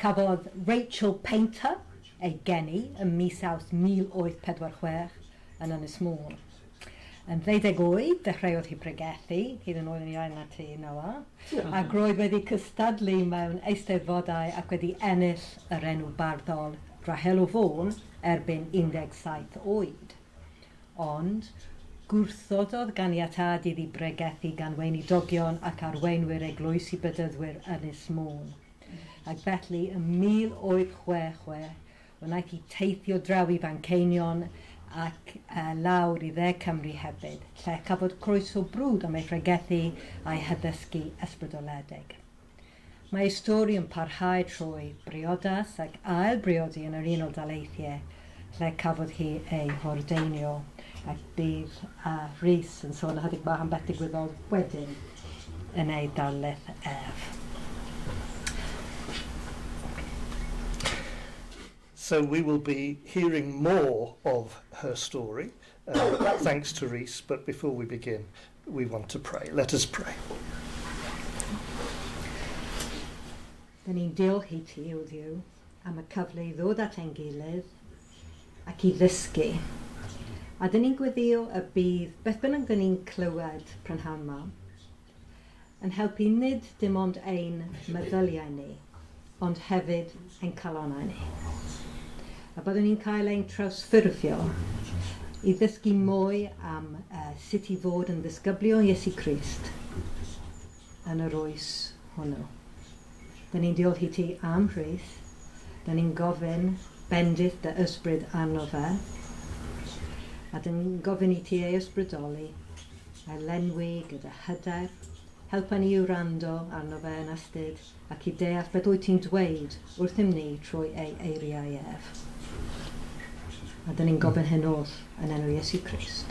Cafodd Rachel Painter ei geni ym mis Awst 1846 yn Ynys Môn. Yn ddeuddeg oed, dechreuodd hi bregethu, hyd yn oed yn iau na ti, Noa, ac roedd wedi cystadlu mewn eisteddfodau ac wedi ennill yr enw barddol 'Rahel o Fôn' erbyn 17 oed. Ond, gwrthododd ganiatâd iddi bregethu gan weinidogion ac arweinwyr eglwys i Bedyddwyr Ynys Môn. ac felly ym 1866 wnaeth hi teithio draw i Fanceinion ac lawr i Dde Cymru hefyd, lle cafodd croeso brwd am ei phregethu a'i haddysgu ysbrydoledig. Mae ei stori yn parhau trwy briodas ac ail-briodi yn yr Unol Daleithiau, lle cafodd hi ei hordeinio ac bydd Rhys yn sôn ychydig bach am beth digwyddodd wedyn yn ei darlith ef. So we will be hearing more of her story thanks to Rhys but before we begin we want to pray. Let us pray. Dyn ni'n diolch i ti, O Dduw, am y cyfle i ddod at ein gilydd ac i ddysgu. A dyn ni'n gweddïo y bydd beth bynnag dyn ni'n clywed prynhawn 'ma yn helpu nid dim ond ein meddyliau ni, ond hefyd ein calonnau ni. A byddwn ni'n cael ein trawsffurfio i ddysgu mwy am sut i fod yn ddisgyblion Iesu Crist. yn yr oes hwnnw. Dŷn ni'n diolch i ti am Rhyth. Dŷn ni'n gofyn bendith dy ysbryd arno fe. A dŷn ni'n gofyn i ti ei ysbrydoli, a'i lenwi gyda hyder. Helpa ni i wrando arno fe yn astud ac i deall beth wyt ti'n dweud wrthym ni trwy ei eiriau ef. A dŷn ni'n gofyn hyn oll yn enw Iesu Crist.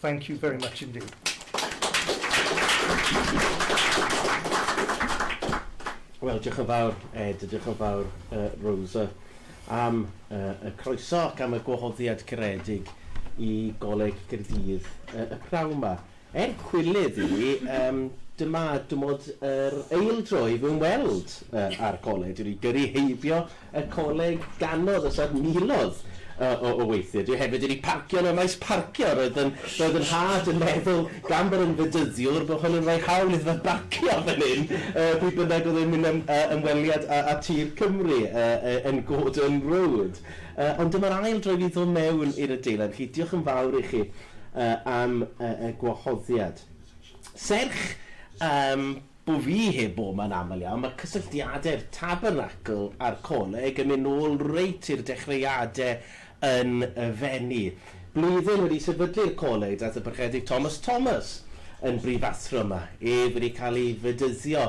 Thank you very much indeed. Wel, diolch yn fawr Ed, diolch yn fawr uh, Rosa am uh, y croeso ac am y gwahoddiad caredig i Goleg Gyrdydd uh, y prawn yma. Er cwilydd i ni, um, dyma dymod yr eildro i fy ymweld uh, â'r goleg. Dwi'n ei gyrru heibio y coleg ganodd os nad milodd o o weithiau. Dwi hefyd wedi parcio yn y maes parcio. Roedd yn roedd yn nhad yn meddwl, gan bod yn Fedyddiwr, bod hwn yn rhoi hawl iddo fe barcio fan hyn yy pryd bynnag oedd e'n mynd am yy ymweliad â â tir Cymru yy yy yn Gordon Road. Yy ond dyma'r ail dro i fi ddod mewn i'r adeilad. Felly diolch yn fawr i chi yy am yy y gwahoddiad. Serch yym Bu fi heb Bowman aml iawn, mae cysylltiadau'r Tabernacl a'r Coleg yn mynd nôl reit i'r dechreuadau yn y Fenni. Blwyddyn wedi sefydlu'r Coleg daeth y Parchedig Thomas Thomas yn brifathro yma, ef wedi cael ei fedyddio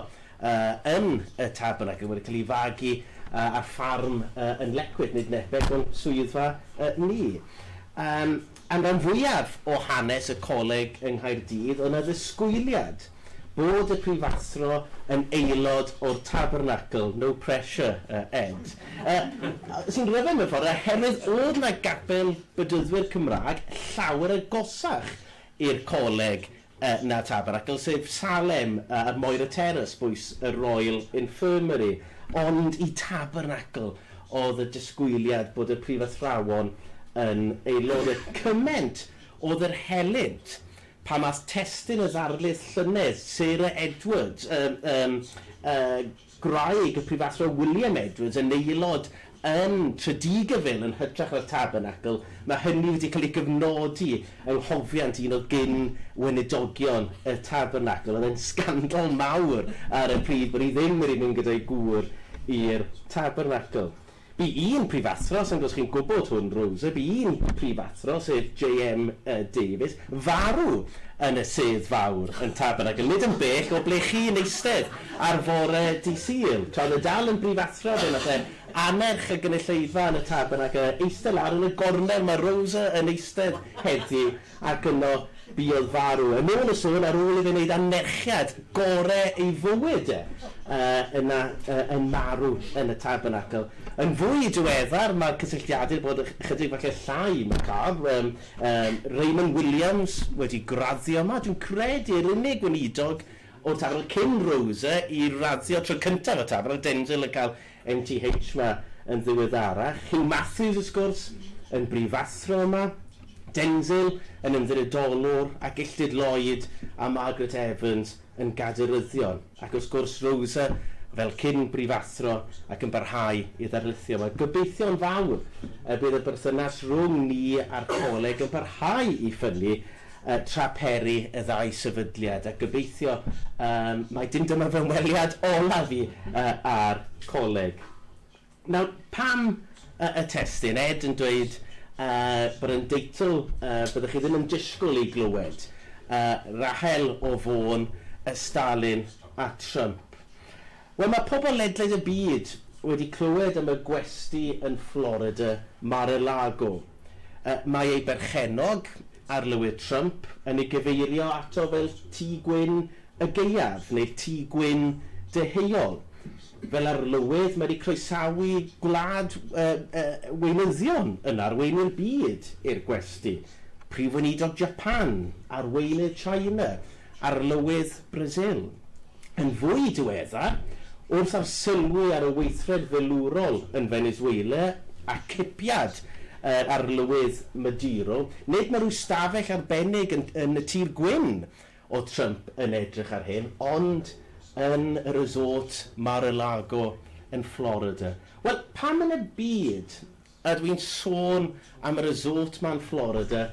yn y Tabernacl, wedi cael ei fagu ar ffarm yn Lecwick, nid nepell o'n swyddfa ni. Am ran fwyaf o hanes y coleg yng Nghaerdydd oedd 'na ddisgwyliad bod y prifathro yn aelod o'r Tabernacl, no pressure yy Ed, yy sy'n rhyfedd mewn ffordd oherwydd oedd 'na gapel Bedyddwyr Cymraeg llawer agosach i'r coleg y na Tabernacl, sef Salem a'r Moira Terrace, bwys y Royal Infirmary, ond i Tabernacl oedd y disgwyliad bod y prifathrawon yn ei lorio. Cyment oedd yr helynt pan aeth testun y ddarlith llynedd, Sarah Edwards, y, y, y, Gwraig y Prifathro William Edwards yn aelod yn Tredygyfyl yn hytrach na'r Tabernacl, mae hynny wedi cael ei gyfnodi yng nghofiant un o gyn-weinidogion y Tabernacl. Oedd e'n sgandal mawr ar y pryd bod hi ddim wedi mynd gyda'i gŵr i'r Tabernacl. Bu un prifathro, sa'n gwybod os chi'n gwybod hwn Rosa, bu un prifathro, sef JM Davies, farw yn y sedd fawr yn Tabernacl, nid yn bell o ble chi'n eistedd, ar fore Dydd Sul. Tra oedd e'n dal yn brifathro, fe wnaeth e annerch y gynulleidfa yn y Tabernacl, eistedd lawr yn y gornel mae Rosa yn eistedd heddiw. ac yno buodd farw, yn ôl y sôn, ar ôl i fe wneud anerchiad gore ei fywyd e, yna yn marw yn y Tabernacl. Yn fwy diweddar, mae cysylltiadur bod ychydig falle llai macabre, yym yym Raymond Williams wedi graddio yma, dwi'n credu yr unig weinidog o'r Tabernacl cyn Rose i raddio tro cyntaf y Tabernacl, Denzil yn cael MTH yma yn ddiweddarach. Huw Matthews, wrth gwrs, yn brifathro yma, Denzil yn ymddiriedolwr, a Gilltud Lloyd a Margaret Evans yn gadeiryddion, ac wrth gwrs Rosa fel cyn-brifathro ac yn parhau i ddarlithio yma. Gobeithio'n fawr y bydd y berthynas rhwng ni a'r Coleg yn parhau i ffynnu tra peri y ddau sefydliad, a gobeithio mai dim dyma fy ymweliad olaf i â'r Coleg. Nawr, pam y testun? Ed yn dweud bod e'n deitl fyddech chi ddim yn disgwyl ei glywed, Rahel o Fôn, y Stalin a Trump. Wel, mae pobl ledled y byd wedi clywed am y gwesty yn Florida, Mar-a-Lago. Mae ei berchennog, Arlywydd Trump, yn ei gyfeirio ato fel Tŷ Gwyn y Gaeaf neu'r Tŷ Gwyn Deheuol, fel arlywydd mae wedi croesawu gwlad weinyddion yn arweinu'r byd i'r gwesty, Prif Weinidog Japan, arweinydd China, Arlywydd Brasil. Yn fwy diweddar, wrth arsylwi ar y weithred filwrol yn Venezuela a cipiad yr Arlywydd Maduro, nid mae rhyw stafell arbennig yn yn y Tir Gwyn o Trump yn edrych ar hyn, ond yn y resort Mar-a-Lago yn Florida. Wel, pam yn y byd Ydw i'n sôn am y resort ma yn Florida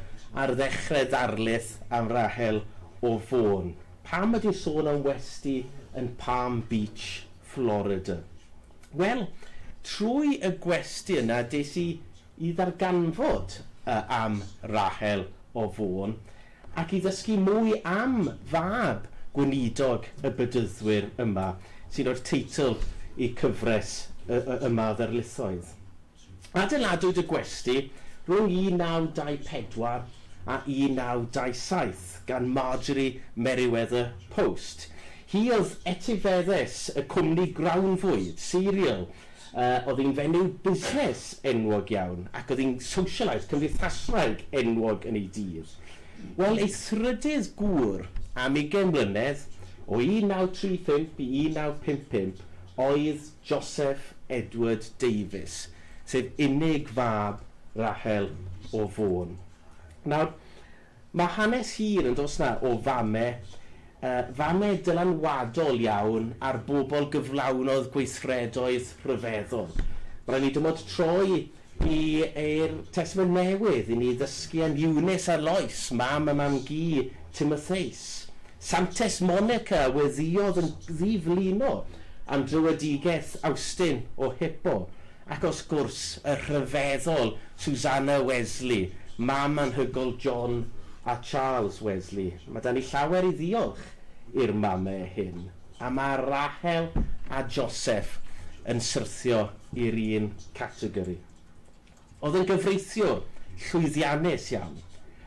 ar ddechre darlith am Rahel o Fôn? Pam ydy'n sôn am westy yn Palm Beach, Florida? Wel, trwy y gwesty yna des i i ddarganfod am Rahel o Fôn. ac i ddysgu mwy am fab gweinidog y Bedyddwyr yma, sy'n rhoi'r teitl i cyfres y y yma o ddarlithoedd. Adeiladwyd y gwesty rhwng 1924 a 1927 gan Marjorie Merriweather Post. Hi oedd etifeddes y cwmni grawnfwyd, cereal, Oedd hi'n fenyw busnes enwog iawn ac oedd hi'n socialite cymdeithaswraig enwog yn ei dydd. Wel, ei thrydydd gŵr am ugain mlynedd, o 1935 i 1955, oedd Joseph Edward Davies, sef unig fab Rahel o Fôn. Nawr, Mae hanes hir yn does 'na o fame, fame dylanwadol iawn ar bobl gyflawnodd gweithredoedd rhyfeddol. Mae'n rhaid i ni dymod troi i yr Testament Newydd i ni ddysgu am Eunice a Lois, mam a mam-gu Timotheus. Santes Monica a weddïodd yn ddi-flino am dröedigaeth Awstin o Hippo. Ac wrth gwrs, y rhyfeddol Susanna Wesley, mam anhygoel John a Charles Wesley. Mae 'da ni llawer i ddiolch i'r mamau hyn, a mae Rahel a Joseph yn syrthio i'r un categori. Oedd yn gyfreithiwr llwyddiannus iawn,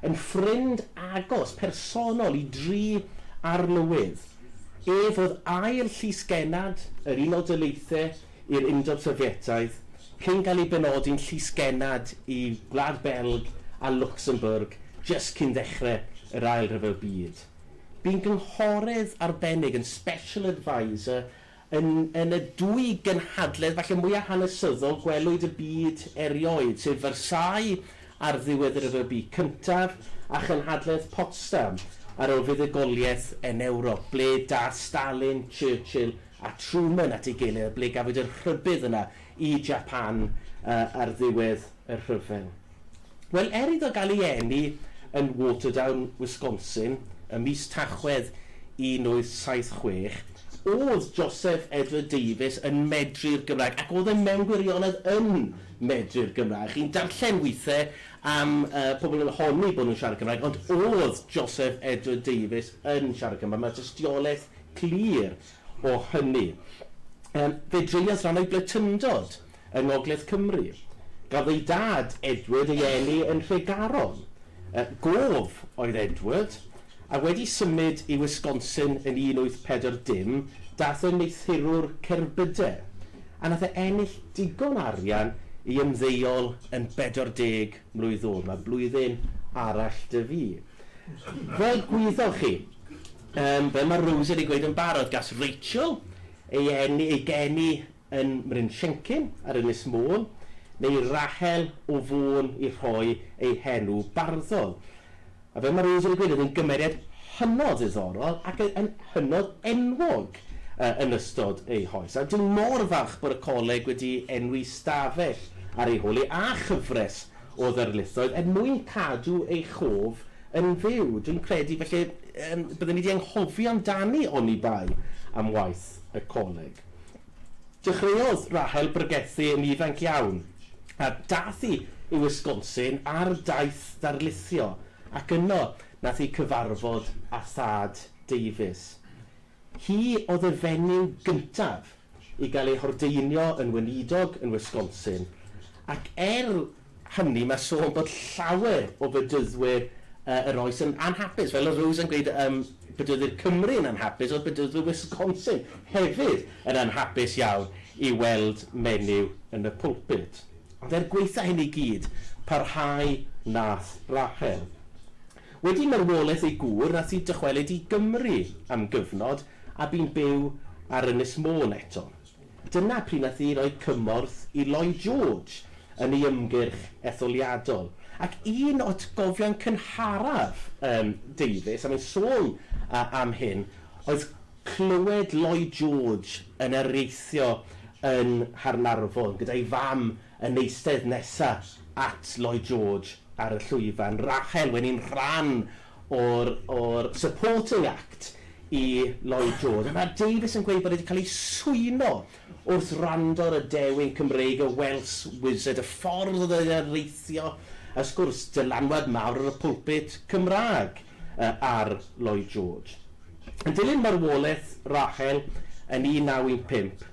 yn ffrind agos personol i dri arlywydd, ef oedd ail llys-genad yr Unol Daleithiau i'r Undeb Sofietaidd, cyn cael ei benodi'n Llys Genad i Gwlad Belg a Lwcsembwrg jyst cyn ddechrau yr Ail Ryfel Byd. Bu'n gynghorydd arbennig yn Special Adviser yn yn y dwy gynhadledd falle mwyaf hanesyddol gwelwyd y byd erioed, sef Versailles ar ddiwedd y Rhyfel Byd Cyntaf a chynhadledd Potsdam ar ôl fuddugoliaeth yn Ewrop, ble daeth Stalin, Churchill a Truman at ei gilydd a ble gafwyd yr rhybudd yna i Japan ar ddiwedd y rhyfel? Wel, er iddo gael ei eni yn Waterdown, Wisconsin, ym mis Tachwedd 1876, o'dd Joseph Edward Davies yn medru'r Gymraeg, ac o'dd e mewn gwirionedd yn medru'r Gymraeg. Chi'n darllen withe am pobl yn honni bod nhw'n siarad Cymraeg, ond o'dd Joseph Edward Davies yn siarad Cymraeg. Mae tystiolaeth glir o hynny. Yym, fe dreuliodd ran o'i bletundod yng ngogledd Cymru. Gafodd ei dad, Edward, ei eni yn Nhregaron. Yy, gof oedd Edward, a wedi symud i Wisconsin yn 1840, daeth yn neithurwr cerbydau, a nath e ennill digon arian i ymddeol yn 40 mlwydd ôl. Mae blwyddyn arall 'da fi. Fel gwyddoch chi, Yym, fel mae Rose wedi gweud yn barod, gas Rachel ei eni- ei geni yn Mrynllencyn ar Ynys Môn, neu Rahel o Fôn i rhoi ei henw barddol. A fel mae Rose wedi gweud, oedd hi'n gymeriad hynod ddiddorol ac yn hynod enwog yy yn ystod ei hoes. A dwi mor falch bod y coleg wedi enwi 'stafell ar ei hôl hi, a chyfres o ddarlithoedd er mwyn cadw ei chof yn fyw. Dwi'n credu felly yym bydden ni 'di anghofio amdani oni bai am waith y coleg. Dechreuodd Rahel bregethu yn ifanc iawn, a dath hi i Wisconsin ar daith darlithio, ac yno nath hi cyfarfod â thad Davies. Hi oedd y fenyw gyntaf i gael ei hordeinio yn weinidog yn Wisconsin ac er hynny mae sôn bod llawer o bedyddwyr yr oes yn anhapus. Fel oedd Rose yn gweud yym bedyddwyr Cymru yn anhapus oedd bedyddwyr Wisconsin hefyd yn anhapus iawn i weld menyw yn y pulpud. Ond er gwaetha hyn i gyd parhau nath Rachel. Wedi marwolaeth ei gŵr, ath i dychwelyd i Gymru am gyfnod a bu'n byw ar Ynys Môn eto. Dyna pryd nath hi roi cymorth i Lloyd George yn ei ymgyrch etholiadol. Ac un o atgofion cynharaf yym Davies, a mae'n sôn yy am hyn, oedd clywed Lloyd George yn areithio yn Nghaernarfon gyda'i fam Yn eistedd nesa at Lloyd George ar y llwyfan, Rachel wedi'n rhan o'r o'r supporting act i Lloyd George, a mae Davies yn gweud bod e wedi cael ei swyno wrth wrando ar y dewin Cymreig y Welsh Wizard, y ffordd oedd e'n areithio, a wrth gwrs, dylanwad mawr ar y pulpit Cymraeg ar Lloyd George. Yn dilyn marwolaeth Rachel yn 1915,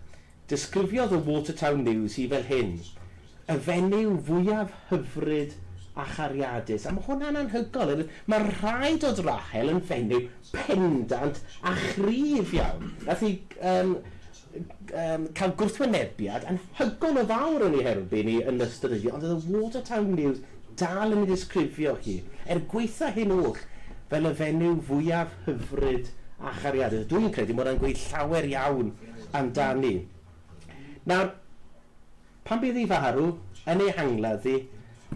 Desgrifiodd y Watertown News hi fel hyn, Y fenyw fwyaf hyfryd a chariadus. A mae hwnna'n anhygoel, oherwydd mae rhai dod Rachel yn fenyw pendant a chryf iawn. Wnaeth hi yym yym cael gwrthwynebiad anhygoel o fawr yn ei herbyn hi yn ystod y dydd, ond oedd y Watertown News dal yn ei ddisgrifio hi, er gwaetha hyn oll, fel y fenyw fwyaf hyfryd a chariadus. A dwi'n credu mae hwnna'n gweud llawer iawn amdani. Nawr, pan bydd ei farw, yn ei angladdu,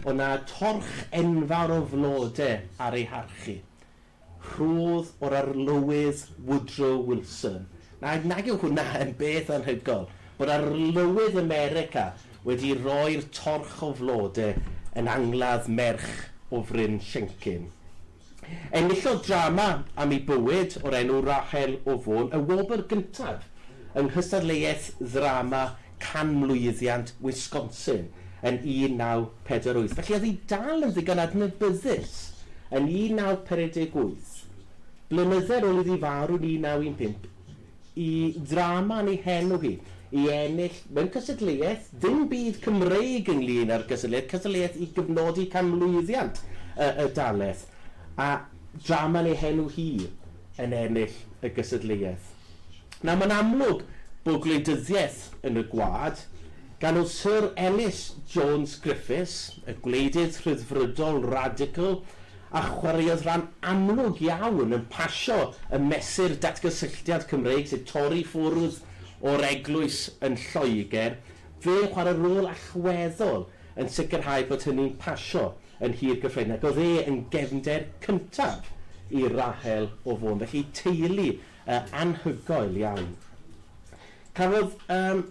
o' 'na torch enfawr o flode ar ei harchu. Rhodd o'r Arlywydd Woodrow Wilson. Nawr, nag yw hwnna yn beth anhygoel, bod Arlywydd America wedi rhoi'r torch o flode yn angladd merch o Fryn Llencyn. Enillodd drama am ei bywyd o'r enw Rachel o Fôn y wobr gyntaf yng nghystadleuaeth ddrama canmlwyddiant Wisconsin yn 1948. Felly oedd hi dal yn ddigon adnabyddus yn 1958, blynydde ar ôl iddi farw yn 1915, y drama yn ei henw hi, i ennill, mewn cystadleuaeth, dim byd Cymreig ynglŷn â'r gystadleuaeth, cystadleuaeth i gyfnodi canmlwyddiant y y dalaeth, a drama yn ei henw hi yn ennill y gystadleuaeth. Nawr, mae'n amlwg bod gwleidyddiaeth yn y gwlad, gan oedd Syr Elis Jones Griffiths, y gwleidydd rhyddfrydol radical, a chwaraeodd ran amlwg iawn yn pasio y mesur datgysylltiad Cymreig sy'n torri ffwrdd o'r eglwys yn Lloegr, fe'n chwarae rôl allweddol yn sicrhau bod hynny'n pasio yn Nhŷ'r Gyffredin ac oedd e yn gefnder cyntaf i Rahel o Fôn. Felly teulu anhygoel iawn. Cafodd yym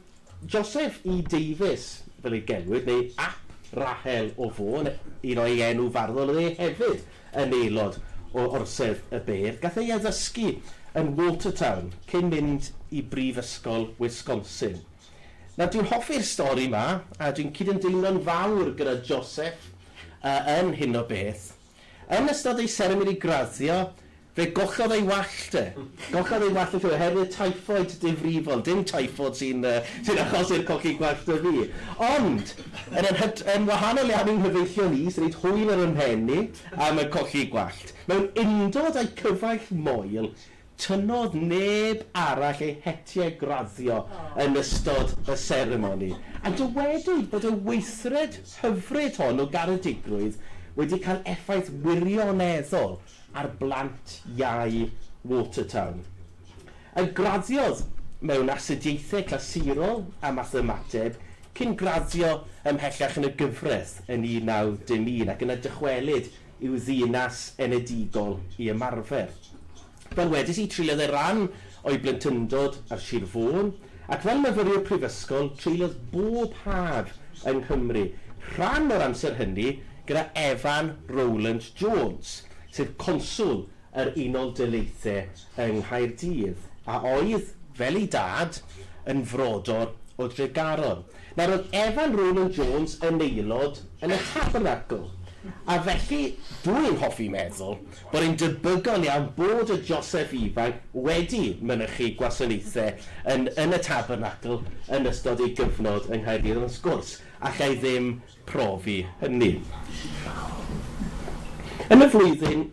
Joseph E Davies fel ei gelwid, neu ap Rahel o Fôn, un o'i enw farddol oedd e hefyd yn aelod o Orsedd y Beirdd. Gath ei addysgu yn Watertown cyn mynd i Brifysgol Wisconsin. Nawr, dwi'n hoffi'r stori 'ma, a dwi'n cydymdeimlo'n fawr gyda Joseph yn hyn o beth. Yn ystod ei seremoni graddio, fe gollodd ei wallt e. Gollodd ei wallt e oherwydd typhoid difrifol. Dim typhoid sy'n yy achosi'r colli gwallt 'da fi. Ond, yn yr hyd- yn wahanol iawn i'n nghyfeillion i, sy'n neud hwyl ar 'y mhen i am y colli gwallt, mewn undod â'i cyfaill moel, Tynnodd neb arall ei hetiau graddio yn ystod y seremoni, a dywedwyd bod y weithred hyfryd hon o garedigrwydd wedi cael effaith wirioneddol ar blant iau Watertown. Y graddiodd mewn Astudiaethau Clasurol a Mathemateg cyn graddio ymhellach yn y gyfraith yn 1901 ac yna dychwelyd i'w ddinas enedigol i ymarfer. Fel wedes i, treuliodd e ran o'i blentyndod ar Sir Fôn, ac fel myfyriwr prifysgol, treuliodd bob haf yng Nghymru, rhan o'r amser hynny gyda Evan Rowland Jones, sef conswl yr Unol Daleithiau yng Nghaerdydd, a oedd, fel ei dad, yn frodor o Dregaron. Nawr, oedd Evan Ronan Jones yn aelod yn y Tabernacl, a felly dw i'n hoffi meddwl bod e'n debygol iawn bod y Joseff ifanc wedi mynychu gwasanaethau yn yn y Tabernacl yn ystod ei gyfnod yng Nghaerdydd, ond wrth gwrs, alla i ddim profi hynny. Yn y flwyddyn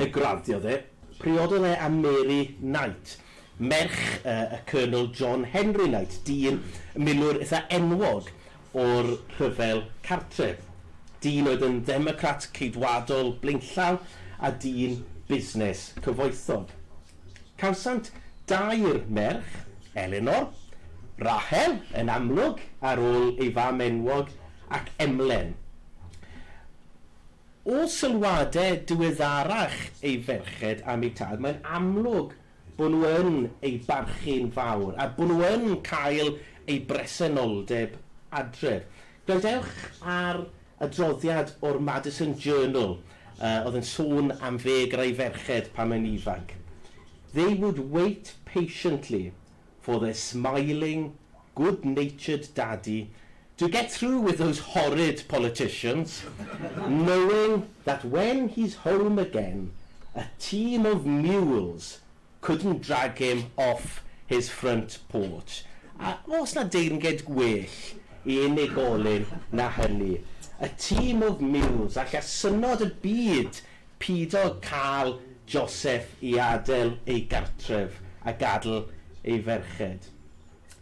y graddiodd e, priododd e â Mary Knight, merch y Colonel John Henry Knight, dyn milwr eitha enwog o'r Rhyfel Cartref, dyn oedd yn ddemocrat Ceidwadol blaenllaw a dyn busnes cyfoethog. Cawsant dair merch, Elinor, Rachel, yn amlwg, ar ôl ei fam enwog, ac Emlen. O sylwadau diweddarach ei ferched am eu tad, mae'n amlwg bod nhw yn ei barchu'n fawr, a bod nhw yn cael ei bresenoldeb adref. Gwrandewch ar adroddiad o'r Madison Journal yy oedd yn sôn am ddeg rai ferched pan o'n ifanc. They would wait patiently for their smiling, good-natured daddy to get through with those horrid politicians, knowing that when he's home again a team of mules Couldn't drag him off his front porch. A oes 'na deyrnged gwell i unigolyn na hynny? A team of mules, alla synnod y byd pido cael Joseph i adael ei gartref a gadl ei ferched.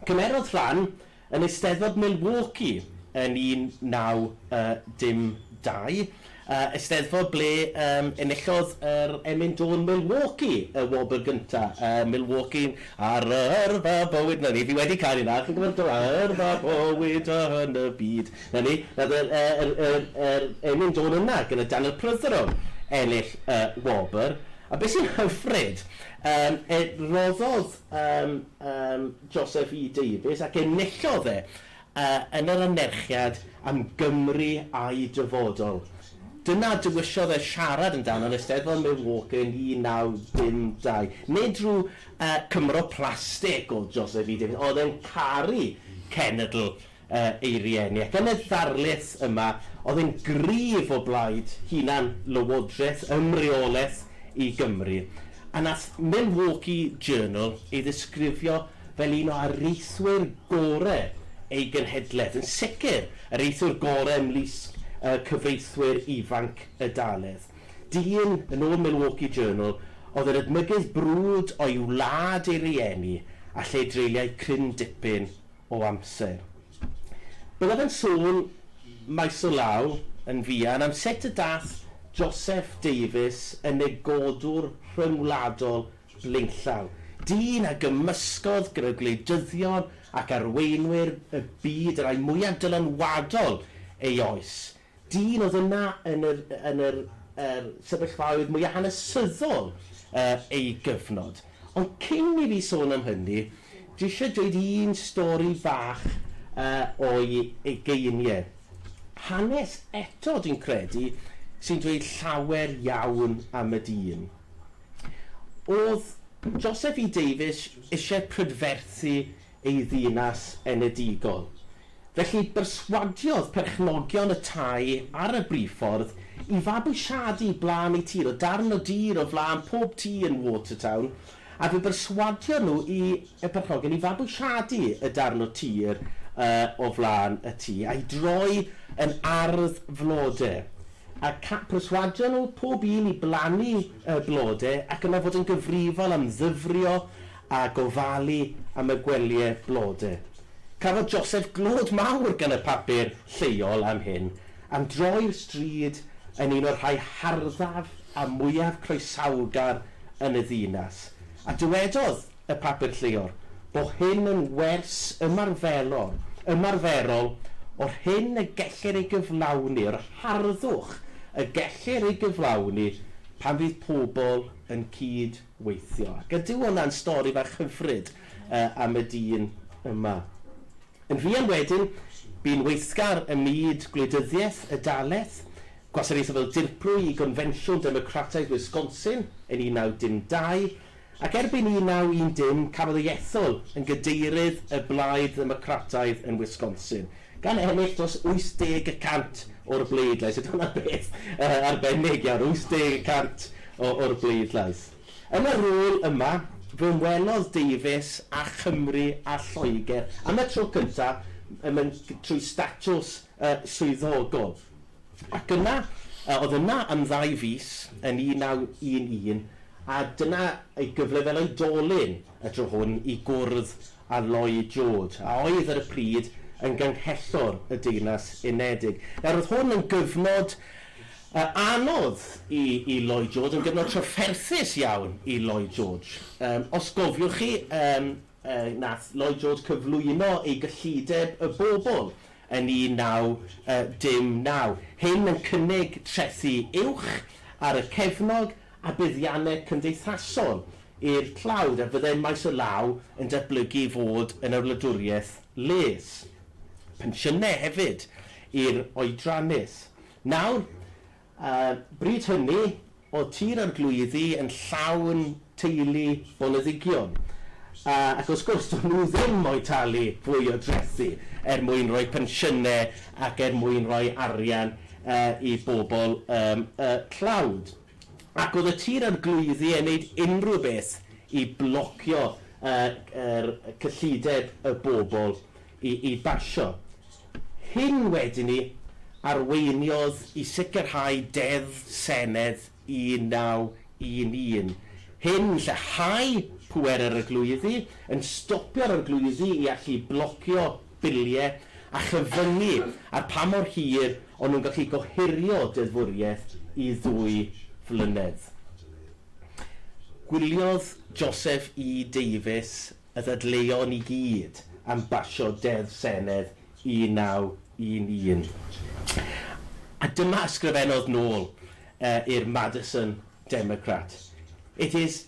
Cymerodd rhan Yn Eisteddfod Milwaukee yn 1912, eisteddfod ble enillodd yr emyn dôn Milwaukee y wobr gyntaf, Milwaukee ar yrfa bywyd, 'na ni, fi wedi canu 'na, chi'n gwybod, ar yrfa bywyd yn y byd, 'na ni, nath yr yr yr yr emyn dôn yna gyda Daniel Prydderowd ennill y wobr, a be sy'n hyfryd, roddodd ym ym Joseph E Davies ac enillodd e yn yr anerchiad am Gymru a'i Dyfodol. Dyna a dewisiodd e siarad amdano yn Eisteddfod Milwaukee yn 1952. Nid rhyw Cymro plastig oedd Joseph E Davies, oedd e'n caru cenedl ei rieni, ac yn y ddarlith yma oedd e'n gryf o blaid hunan lywodraeth ym mreoleth i Gymru, a nath Milwaukee Journal ei ddisgrifio fel un o areithwyr gore ei genhedleth, yn sicr yr areithwr gore ymlusg y cyfreithwyr ifanc y daledd. Dyn, yn ôl Milwaukee Journal, oedd yn edmygydd brwd o'i wlad ei rieni, a lle dreuliai cryn dipyn o amser. Byddaf yn sôn maes o law yn fuan am sut y daeth Joseph Davies yn negodwr rhyngwladol blaenllaw, dyn a gymysgodd gyda gwleidyddion ac arweinwyr y byd y rhai mwyaf dylanwadol ei oes, Dyn oedd yna yn yr yn yr yr sefyllfaoedd mwya hanesyddol yy ei gyfnod. Ond cyn i fi sôn am hynny, dwi isio dweud un stori fach yy o'i ugeinie. Hanes eto dwi'n credu sy'n dweud llawer iawn am y dyn. O'dd Joseph E Davies isie prydferthu ei ddinas enedigol. Felly, berswadiodd perchnogion y tai ar y briffordd i fabwysiadu blaen eu tir, o darn o dir o flaen pob tŷ yn Watertown, a fe berswadiodd nhw i, y perchnogion, i fabwysiadu y darn o tir o flaen y tŷ, a'i droi yn ardd flode, a pherswadio nhw, pob un, i blannu blode, ac yna fod yn gyfrifol am ddyfrio a gofalu am y gwelyau blode. Cafodd Joseph glod mawr gan y papur lleol am hyn, am droi'r stryd yn un o'r rhai harddaf a mwyaf croesawgar yn y ddinas, a dywedodd y papur lleol bo hyn yn wers ymarferol ymarferol o'r hyn y gellir ei gyflawni, o'r harddwch y gellir ei gyflawni pan fydd pobl yn cyd weithio. Ac ydyw hwnna'n stori fach hyfryd am y dyn yma. Yn fuan wedyn, bu'n weithgar ym myd gwleidyddiaeth y Daleth, gwasanaethu fel dirprwy i Gonfensiwn Democrataidd Wisconsin yn 1912, ac erbyn 1910 cafodd ei ethol yn Gadeirydd y Blaid Ddemocrataidd yn Wisconsin. Gan ennill dros 80 y cant o'r bleidlais. Ydy hwnna'n beth arbennig iawn, 80 y cant o'r bleidlais. Yn y rôl yma, fe welodd Davies a Chymru a Lloegr am y tro cyntaf mewn trwy statws swyddogol. Ac yna, oedd yna am ddau fis yn 1911, a dyna ei gyfle fel oedolyn y tro hwn i gwrdd a Lloyd George, a oedd ar y pryd yn Ganghellor y Deyrnas Unedig. Nawr, oedd hwn yn gyfnod anodd i i Lloyd George, yn gyfnod trafferthus iawn i Lloyd George. Yym, os gofiwch chi, yym, yy, nath Lloyd George cyflwyno ei gyllideb y bobl yn 1919. Hyn yn cynnig trethi uwch ar y cefnog a buddiannau cymdeithasol i'r tlawd a fyddai maes o law yn datblygu i fod yn y wladwriaeth les. Pensiynau hefyd i'r oedrannus. Nawr, y bryd hynny, oedd Tir Arglwyddi yn llawn teulu boneddigion, ac wrth gwrs, do'n nhw ddim mo'u talu fwy o drethi er mwyn rhoi pensiynau ac er mwyn rhoi arian i bobl y tlawd. Ac oedd y tir a'r glwyfi yn neud unrhyw beth i blocio yr cyllideb y bobl i basio. Hyn wedi 'ny arweiniodd i sicrhau Deddf Senedd 1911 hyn lleihau pwerau ar y glwyfi, yn stopio'r arglwyddi i allu blocio bilie a chyfyngu ar pa mor hir o'n nhw'n gallu gohirio deddfwriaeth i ddwy flynedd. Gwyliodd Joseph E Davies y ddadleuon i gyd am basio Deddf Senedd 1911 a dyma ysgrifennodd nôl i'r Madison Democrat, It is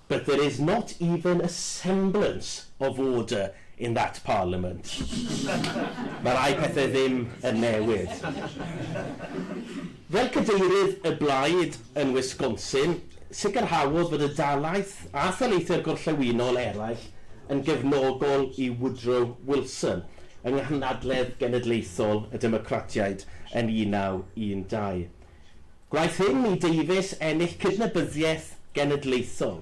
But there is not even a semblance of order in that Parliament. Mae rhai pethau ddim yn newid. Fel cadeirydd y blaid yn Wisconsin, sicrhaodd fod y dalaith a thaleithiau'r gorllewinol eraill yn gefnogol i Woodrow Wilson yng nghynhadledd genedlaethol y Democratiaid yn 1912. Gwnaeth hyn i Davies ennill cydnabyddiaeth genedlaethol,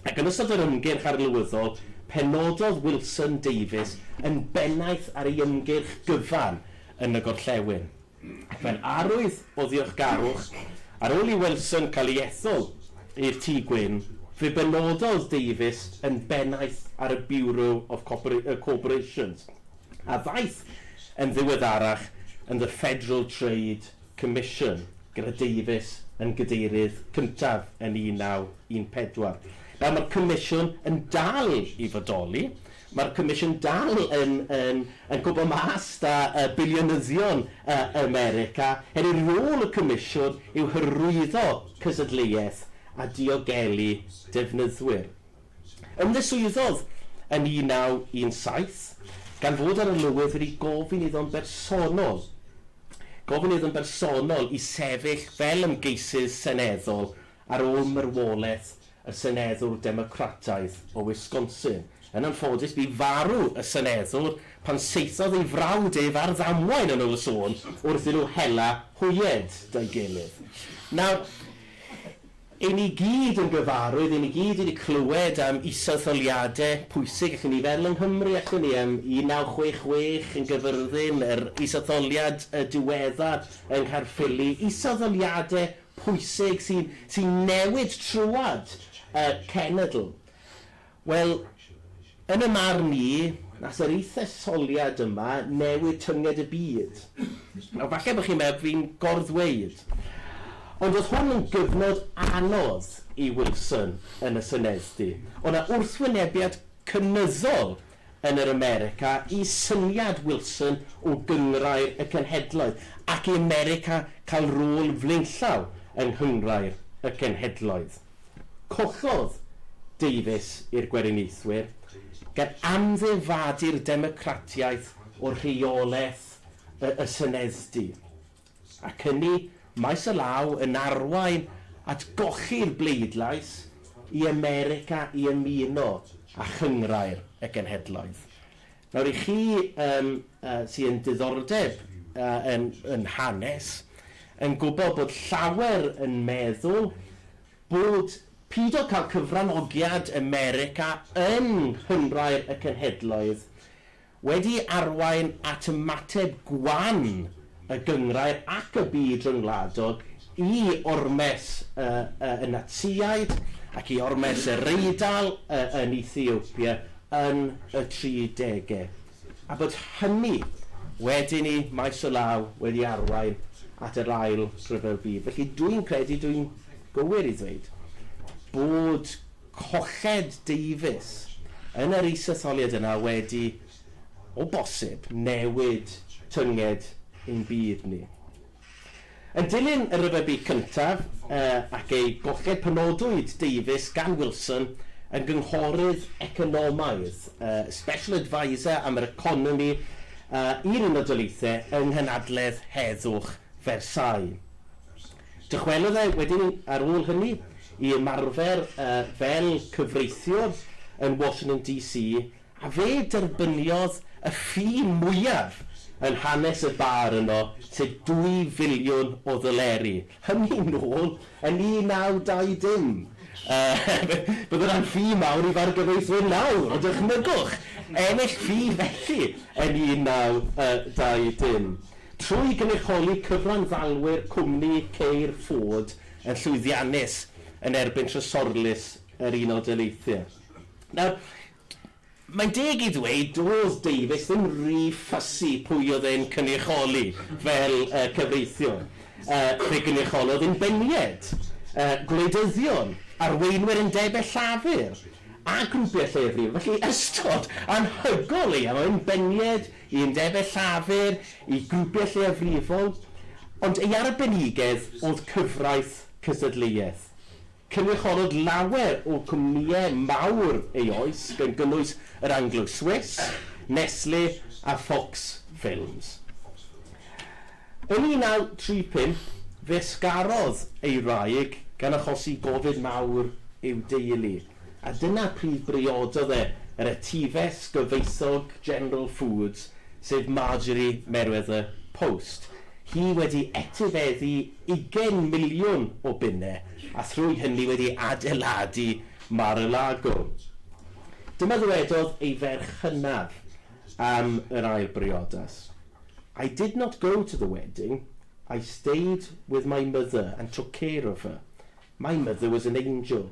ac yn ystod yr ymgyrch arlywyddol penododd Wilson Davies yn bennaeth ar ei ymgyrch gyfan yn y gorllewin, ac mae'n arwydd o ddiolchgarwch ar ôl i Wilson cael ei ethol i'r Tŷ Gwyn, fe benododd Davies yn bennaeth ar y Bureau of Corporations, a ddaeth yn ddiweddarach yn The Federal Trade Comisiwn, Gredeiddus, yn Gadeirydd cyntaf yn 1914. Nawr, mae'r Comisiwn yn dal i fodoli. Mae'r Comisiwn dal yn, yn, yn cwympo mas 'da yy biliynyddion yy America, hynny rôl y Comisiwn yw hyrwyddo cystadleuaeth a diogelu defnyddwyr. Ymddiswyddodd yn 1917, gan fod yr arlywydd wedi gofyn iddo'n bersonol gofyn iddo'n bersonol i sefyll fel ymgeisydd seneddol ar ôl marwolaeth y seneddwr Democrataidd o Wisconsin. Yn anffodus, bu farw y seneddwr pan saethodd ei frawd ef ar ddamwain yn ôl y sôn wrth i nhw hela hwyed 'da'i gilydd. Nawr, I ni gyd yn gyfarwydd, i ni gyd wedi clywed am is-etholiadau pwysig ac yn niferol yng Nghymru, allwn ni, am 1966 yn Gyfyrddin, yr is-etholiad diweddar yng Nghaerffili, is-etholiadau pwysig sy'n newid trwad y cenedl. Wel, yn y marn i, nas yr ith etholiad yma newid tynged y byd. Nawr, falle bo chi'n meddwl fi'n gor-ddweud, ond o'dd hwn yn gyfnod anodd i Wilson yn y Senedddy. O' 'na wrthwynebiad cynyddol yn yr America i syniad Wilson o Gynghrair y Cenhedloedd, ac i America ca'l rôl flaenllaw yng Nghynghrair y Cenhedloedd. Collodd Davies i'r Gweriniaethwyr, gan amddiffadu'r Democratiaeth o rheolaeth y y Senedddy, ac ynni maes y law yn arwain at golli'r bleidlais i America i ymuno â Chynghrair y Genhedloedd. Nawr i chi yym yy sy yn diddordeb yy yn yn hanes yn gwbo bod llawer yn meddwl bod pido ca'l cyfranogiad America yn Nghynghrair y Cenhedloedd wedi arwain at ymateb gwan y gynghrair ac y byd ryngwladol i ormes y y Natsïaid ac i ormes yr Eidal y yn Ethiopia yn y tri dege, a bod hynny wedyn i maes o law wedi arwain at yr Ail Ryfel Byd. Felly, dw i'n credu, dw i'n gywir i ddweud, bod colled deufis yn yr isetholiad yna wedi o bosib, newid tynged ein byd ni. Yn dilyn y Rhyfel Byd Cyntaf ac ei golled penodwyd Davies gan Wilson yn gynghorydd economaidd, Special Adviser am yr Economi i'r Unol Daleithiau yng Nghynhadledd Heddwch Versailles. Dychwelodd e wedyn ar ôl hynny i ymarfer fel cyfreithiwr yn Washington DC A fe derbyniodd y ffi mwyaf yn hanes y bar yno, sef dwy filiwn o ddoleri, hynny nôl yn 1920! Yy, bydd hwnna'n ffi mawr i fargyfeithwyr nawr, ond dychmygwch ennill ffi felly yn 1920! Trwy gynrychioli cyfranddalwyr cwmni ceir Ford yn llwyddiannus yn erbyn Trysorlys yr Unol Daleithiau. Nawr, mae'n deg i ddweud, doedd Davies ddim rhy fussy pwy oedd e'n cynrychioli fel cyfreithiwr. Fe gynrychiolodd inbeniaid, gwleidyddion, arweinwyr undebau llafur a grwpiau lleiafrifol. Felly, ystod anhygoel o leiaf, o inbeniaid i undebau llafur, i grwpiau lleiafrifol. Ond ei arbenigedd oedd cyfraith cystadleuaeth. Cynrychiolodd lawer o gwmnïau mawr ei oes, gan gynnwys yr Anglo-Swiss, Nestle a Fox Films. Yn 1935, fe ysgarodd ei wraig, gan achosi gofid mawr i'w deulu, a dyna pryd briododd e yr etifes gyfoethog General Foods, sef Marjorie Merewether Post, hi wedi etifeddu Ugain miliwn o bunne a thrwy hynny wedi adeiladu Mar-a-Lago. Dyma ddywedodd ei ferch hynaf am yr ail briodas, I did not go to the wedding, I stayed with my mother and took care of her. My mother was an angel.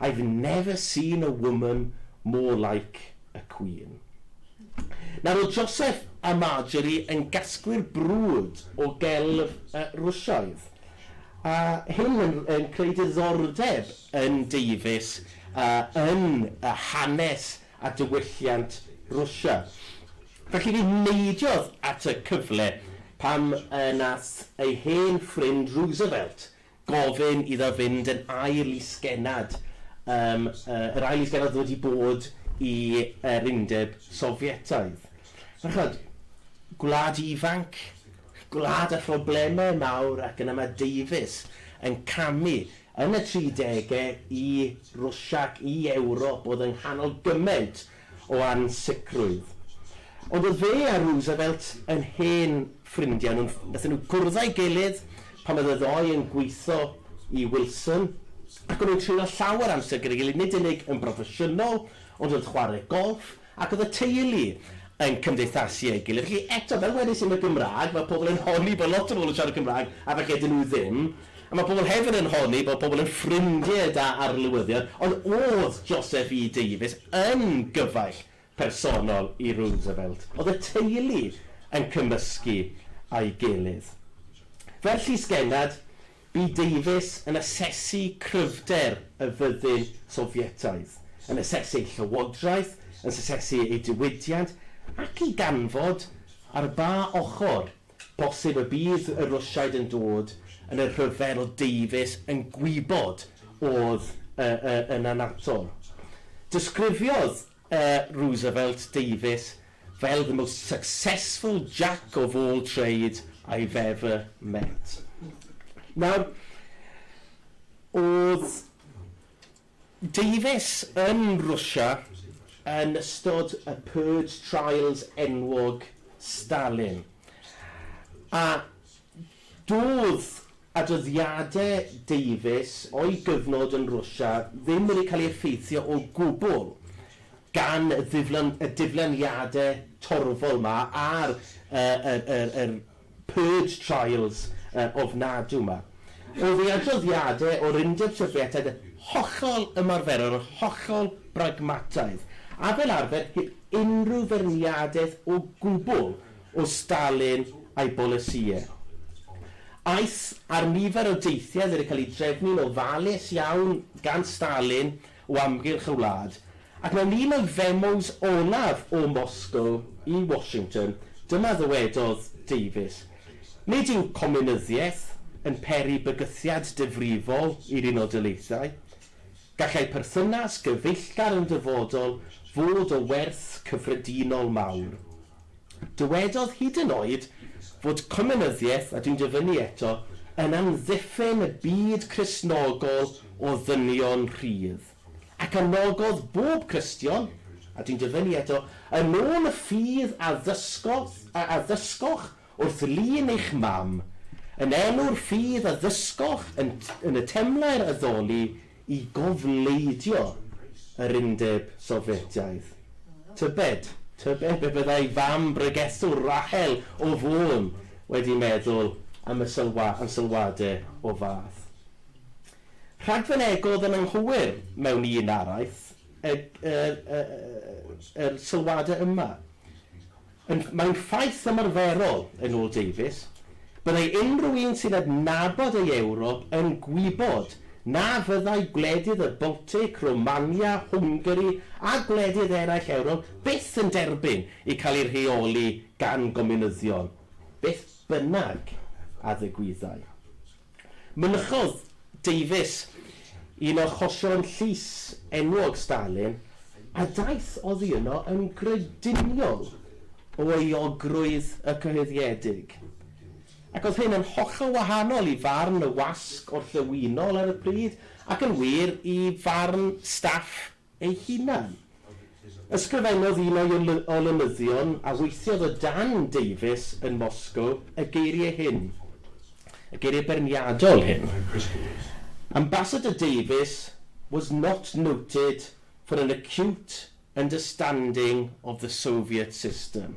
I've never seen a woman more like a queen. Nawr oedd Joseph a Marjorie yn gasglu'r brwd o gelf y Rwsioedd, a hyn yn yn creu diddordeb yn Davies yn hanes a diwylliant Rwsia. Felly fe neidiodd at y cyfle pan nath ei hen ffrind Roosevelt gofyn iddo fynd yn ail i sgennad, yym, yy, yr ail i sgennad oedd wedi bod i, yr Undeb Sofietaidd. Fel ch'mod, gwlad ifanc, gwlad â phroblemau mawr ac yn amadeufus, yn camu yn y tridegau i Rwsia ac i Ewrop oedd yng nghanol gymaint o ansicrwydd. Ond oedd fe a Roosevelt yn hen ffrindiau. Nhw'n... wnaethon nhw gwrdd â'i gilydd pan oedd y ddou yn gweithio i Wilson, ac o'n nhw'n treulio llawer amser gyda'i gilydd, nid unig yn broffesiynol, ond wrth chwarae golff, ac oedd y teulu yn cymdeithasu â'i gilydd. Felly, eto, fel wedais i am y Gymraeg, mae pobl yn honni bod lot o bobl yn siarad Cymraeg, a falle 'dyn nhw ddim. A mae pobl hefyd yn honni bod pobl yn ffrindiau da arlywyddion, ond oedd Joseph E Davies yn gyfaill personol i Roosevelt? Oedd y teulu yn cymysgu a'i gilydd? Fel llysgennad, bu Davies yn asesu cryfder y fyddin Sofietaidd, yn asesu ei llywodraeth, yn asesu ei diwydiant, ac i ganfod ar ba ochr Bosib y bydd y Rwsiaid yn dod yn y rhyfel deufis yn gwybod oedd y y yn annatol. Disgrifiodd y Roosevelt deufis fel the most successful Jack of all trade I've ever met. Nawr, oedd Davies yn Rwsia yn ystod y Purge Trials enwog Stalin, a doedd adroddiadau Davies o'i gyfnod yn Rwsia ddim wedi cael ei effeithio o gwbl gan y diflaniadau torfol 'ma ar yr Purge trials ofnadw 'ma. O'dd ei adroddiade o'r Undeb Sofietaidd yn hollol ymarferol yn hollol bragmataidd, a fel arfer heb unrhyw feirniadeth o gwbwl o Stalin a'i bolisïe. Aeth ar nifer o deithiau oedd wedi cael eu drefnu'n ofalus iawn gan Stalin o amgylch y wlad, ac mewn un o femos olaf o Moscow i Washington, dyma ddywedodd Davies, Nid yw comunyddiaeth yn peri bygythiad difrifol i'r Unol Daleithiau. Gallai perthynas gyfeillgar yn dyfodol fod o werth cyffredinol mawr. Dywedodd hyd yn oed fod cominyddiaeth, a dwi'n dyfynnu eto, yn amddiffyn y byd Cristnogol o ddynion rhydd, ac anogodd bob Cristion, a dwi'n dyfynnu eto, yn ôl y ffydd a ddysgodd, a addysgoch wrth lun eich mam, yn enw'r ffydd a ddysgoch yn, yn y temlaer addoli i gofleidio yr Undeb Sofietaidd. Tybed, tybed be fyddai fam bregethwr Rachel o Fôn wedi meddwl am y sylwa, am sylwade o fath? Rhagfynegodd yn anghywir mewn un araith y, y, y, y, yr sylwade yma. Ond mae'n ffaith ymarferol, yn ôl Davies, byddai unrhyw un sy'n adnabod ei Ewrop yn gwybod na fyddai gwledydd y Baltic, Romania, Hwngari a gwledydd eraill Ewrop byth yn derbyn i cael eu rheoli gan gomiwnyddion, beth bynnag a ddigwyddai. Mynychodd Davies un o achosion llys enwog Stalin a daeth oddi yno yn grediniol o euogrwydd y cyhoeddiedig, ac oedd hyn yn hollol wahanol i farn y wasg orllewinol ar y pryd, ac yn wir, i farn staff ei hunan. Ysgrifennodd un o'i olynyddion a weithiodd o dan Davies yn Moscow y geiriau hyn, y geiriau beirniadol hyn, Ambassador Davies was not noted for an acute understanding of the Soviet system.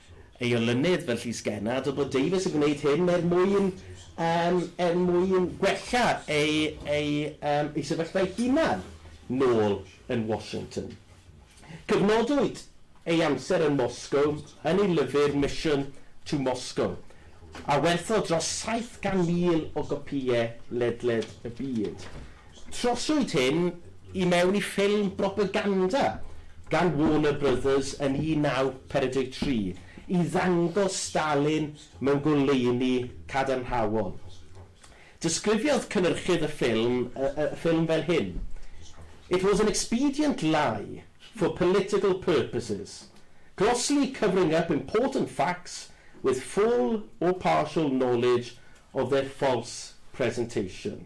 ei olynydd fel llysgenna, a dywed bod Davies yn gwneud hyn er mwyn yym er mwyn gwella ei ei yym ei sefyllfa ei hunan nôl yn Washington. Cyfnodwyd ei amser yn Moscow yn ei lyfr Mission to Moscow, a werthodd dros 700,000 o gopïau ledled y byd. Troswyd hyn i mewn i ffilm bropaganda gan Warner Brothers yn 1943 i ddangos Stalin mewn goleuni cadarnhaol. Disgrifiodd cynyrchydd y ffilm y ffilm fel hyn, It was an expedient lie for political purposes, grossly covering up important facts with full or partial knowledge of their false presentation.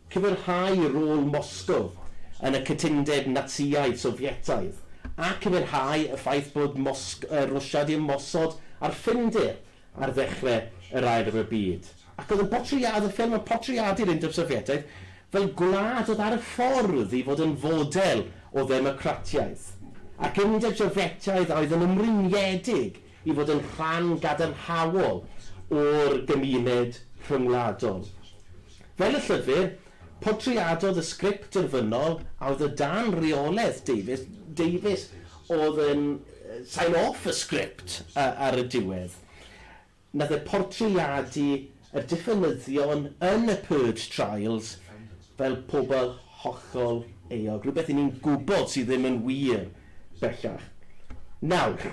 Cyfyrhau rôl Moscow yn y cytundeb Natsïaidd-Sofietaidd, a cyfyrhau y ffaith bod Mosg-, yy, Rwsia 'di ymosod ar Ffindir ar ddechre yr Ail Ryfel Byd. Ac oedd yn portread-, y ffilm yn portreadu'r Undeb Sofietaidd fel gwlad oedd ar y ffordd i fod yn fodel o ddemocratiaeth, ac Undeb Sofietaidd a oedd yn ymrwymiedig i fod yn rhan gadarnhaol o'r gymuned rhyngwladol. Fel y llyfr, portreadodd y sgript derfynol a oedd o dan reolaeth Davies, Davies oedd yn sign off y sgript ar y diwedd, wnaeth e portreadu y diffynyddion yn y purge trials fel pobl hollol euog, rhywbeth i ni'n gwybod sydd ddim yn wir bellach. Nawr,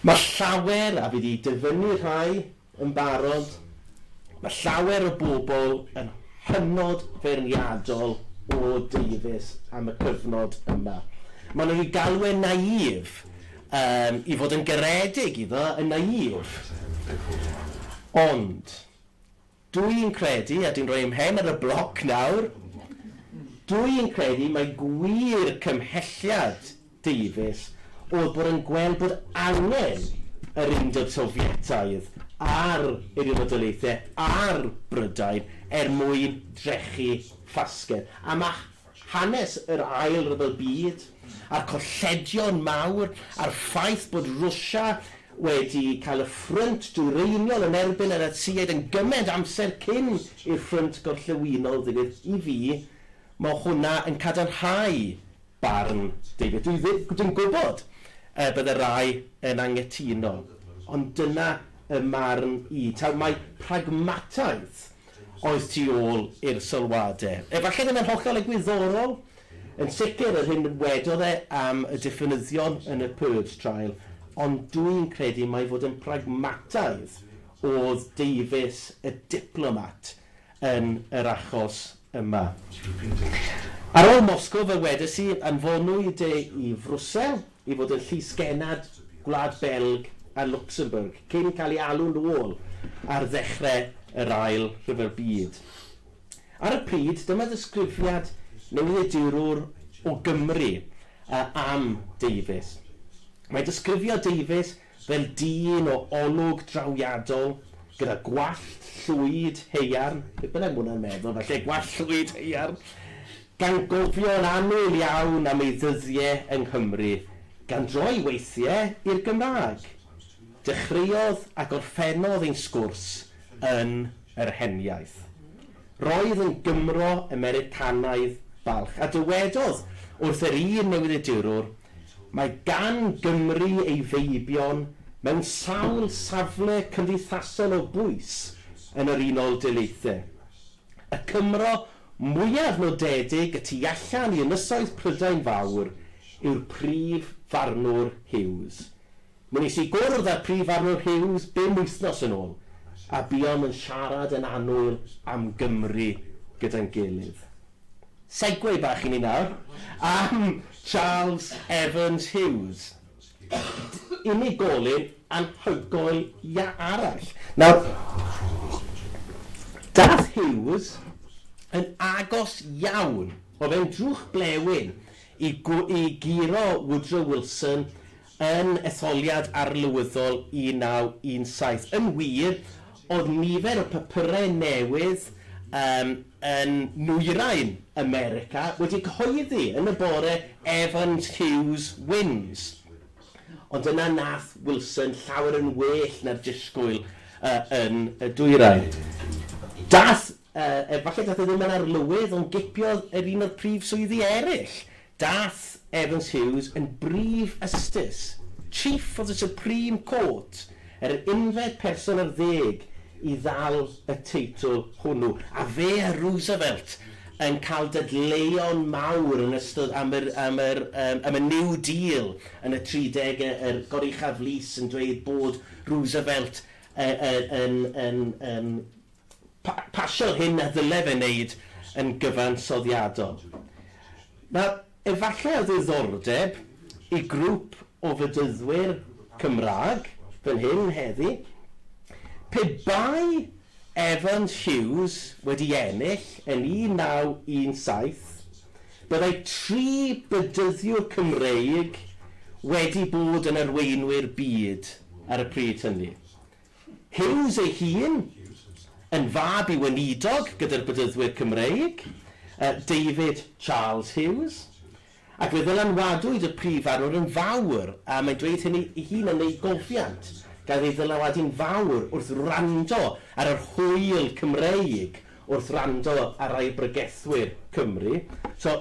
mae llawer, a fi 'di dyfynnu rhai yn barod, mae llawer o bobl yn hynod feirniadol o Davies am y cyfnod yma. Maen nhw 'di galw e'n naïf. Yym, i fod yn garedig i fy y naïf. Ond, dw i'n credu, a dwi'n rhoi 'y mhen ar y bloc nawr, dw i'n credu mai gwir cymhelliad Davies oedd bod yn gweld bod angen yr Undeb Sofietaidd a'r Eiriol Fodolaethau a'r Brydain er mwyn drechu ffasgedd. A mae hanes yr Ail Ryfel Byd a'r colledion mawr a'r ffaith bod Rwsia wedi cael y ffrynt dwyreiniol yn erbyn y Natsïaid yn gymaint amser cyn i'r Ffrynt Gorllewinol ddigwydd, i fi, mae hwnna yn cadarnhau barn David. Dwi ddim, dwi'n gwybod y bydde rai yn anghytuno, ond dyna 'y marn i. Taw mai pragmataeth oedd tu ôl i'r sylwadau. Efallai ddim yn hollol egwyddorol, yn sicr, yr hyn wedodd e am y diffynyddion yn y Purge Trial, ond dw i'n credu mai fod yn pragmataidd oedd deufis y diplomat yn yr achos yma. Ar ôl Moscow, fe wedes i, anfonwyd e i Frwsel, i fod yn llysgennad Gwlad Belg a Lwcsembwrg cyn cael ei alw'n ôl ar ddechrau yr Ail Rhyfel Byd. Ar y pryd, dyma ddisgrifiad newyddiadurwr o Gymru am Davies. Mae'n disgrifio Davies fel dyn o olwg drawiadol, gyda gwallt llwyd haearn, beth bynnag mae hwnna'n meddwl, falle gwallt llwyd haearn, gan gofio yn annwyl iawn am ei ddyddie yng Nghymru, gan droi weithie i'r Gymraeg. Dechreuodd a gorffennodd ein sgwrs yn yr heniaith. Roedd yn Gymro Americanaidd balch, a dywedodd wrth yr un newyddiadurwr, Mae gan Gymru ei feibion mewn sawl safle cymdeithasol o bwys yn yr Unol Daleithiau. Y Cymro mwyaf nodedig y tu allan i Ynysoedd Prydain Fawr yw'r prif farnwr Hughes. Mi wnes i gwrdd â'r Prif Farwr Hughes bum wythnos yn ôl, a buom yn siarad yn annwyl am Gymru gyda'n gilydd. Segway bach i ni nawr am Charles Evans Hughes, unigolyn anhygoel ia arall. Nawr, daeth Hughes yn agos iawn, oedd e'n drwch blewyn, i guro Woodrow Wilson Yn etholiad arlywyddol 1917, yn wir, oedd nifer y papyrau newydd um, yn nwyrain America wedi cyhoeddi yn y bore Evans Hughes wins. Ond yna nath Wilson llawer yn well na'r disgwyl uh, yn y dwyrain. Dath, uh, efallai dath e ddim yn arlywydd, ond gipiodd yr un o'r prif swyddi eraill. Daeth Evans Hughes yn Brif Ystiys, Chief of the Supreme Court, yr unfed person ar ddeg i ddal y teitl hwnnw, a fe a Roosevelt yn cael dadleuon mawr yn ystod am yr am yr yym am y New Deal yn y tridege, yr Goruchaf Lys yn dweud bod Roosevelt yy yy yn yn yn pasio hyn na ddylef ei wneud yn gyfansoddiadol. Nawr, efallai o ddiddordeb i grwp o Fydyddwyr Cymraeg fan hyn heddi, pe bai Evans Hughes wedi ennill yn 1917, byddai tri Bedyddiwr Cymreig wedi bod yn arweinwyr byd ar y pryd hynny. Hughes ei hun, yn fab i weinidog gyda'r Bedyddwyr Cymreig, David Charles Hughes, ac fe ddylanwadwyd y Prif Farwr yn fawr, a mae'n dweud hynny ei hun yn ei gofiant, gafodd ei ddylanwadu'n fawr wrth wrando ar yr hwyl Cymreig, wrth wrando ar rai o bregethwyr Cymru. So,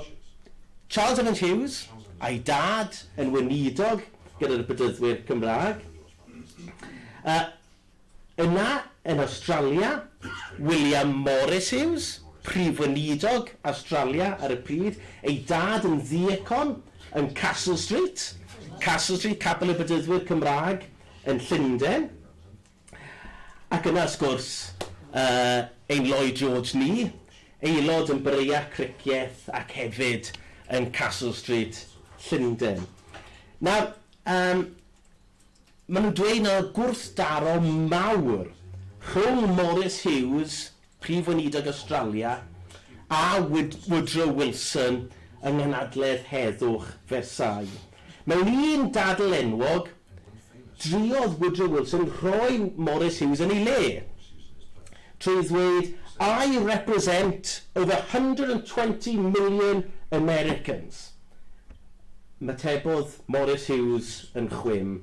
Charles Evans Hughes, a'i dad, yn weinidog gyda'r Bedyddwyr Cymraeg. A yna, yn Awstralia, William Morris Hughes, Prif Weinidog Awstralia ar y pryd, ei dad yn ddiacon yn Castle Street, Castle Street, Capel y Bedyddwyr Cymraeg yn Llundain. Ac yna, wrth gwrs, ein Lloyd George ni, aelod yn Breya Cricieth ac hefyd yn Castle Street, Llundain. Nawr, Maen nhw'n dweud na oedd gwrthdaro mawr rhwng Maurice Hughes, Prif Weinidog Awstralia, a Woodrow Wilson yng Nghanadledd Heddwch Versailles. Mewn un dadl enwog, druodd Woodrow Wilson rhoi Maurice Hughes yn ei le, trwy ddweud I represent over hundred and twenty million Americans. Ymatebodd Maurice Hughes yn chwim,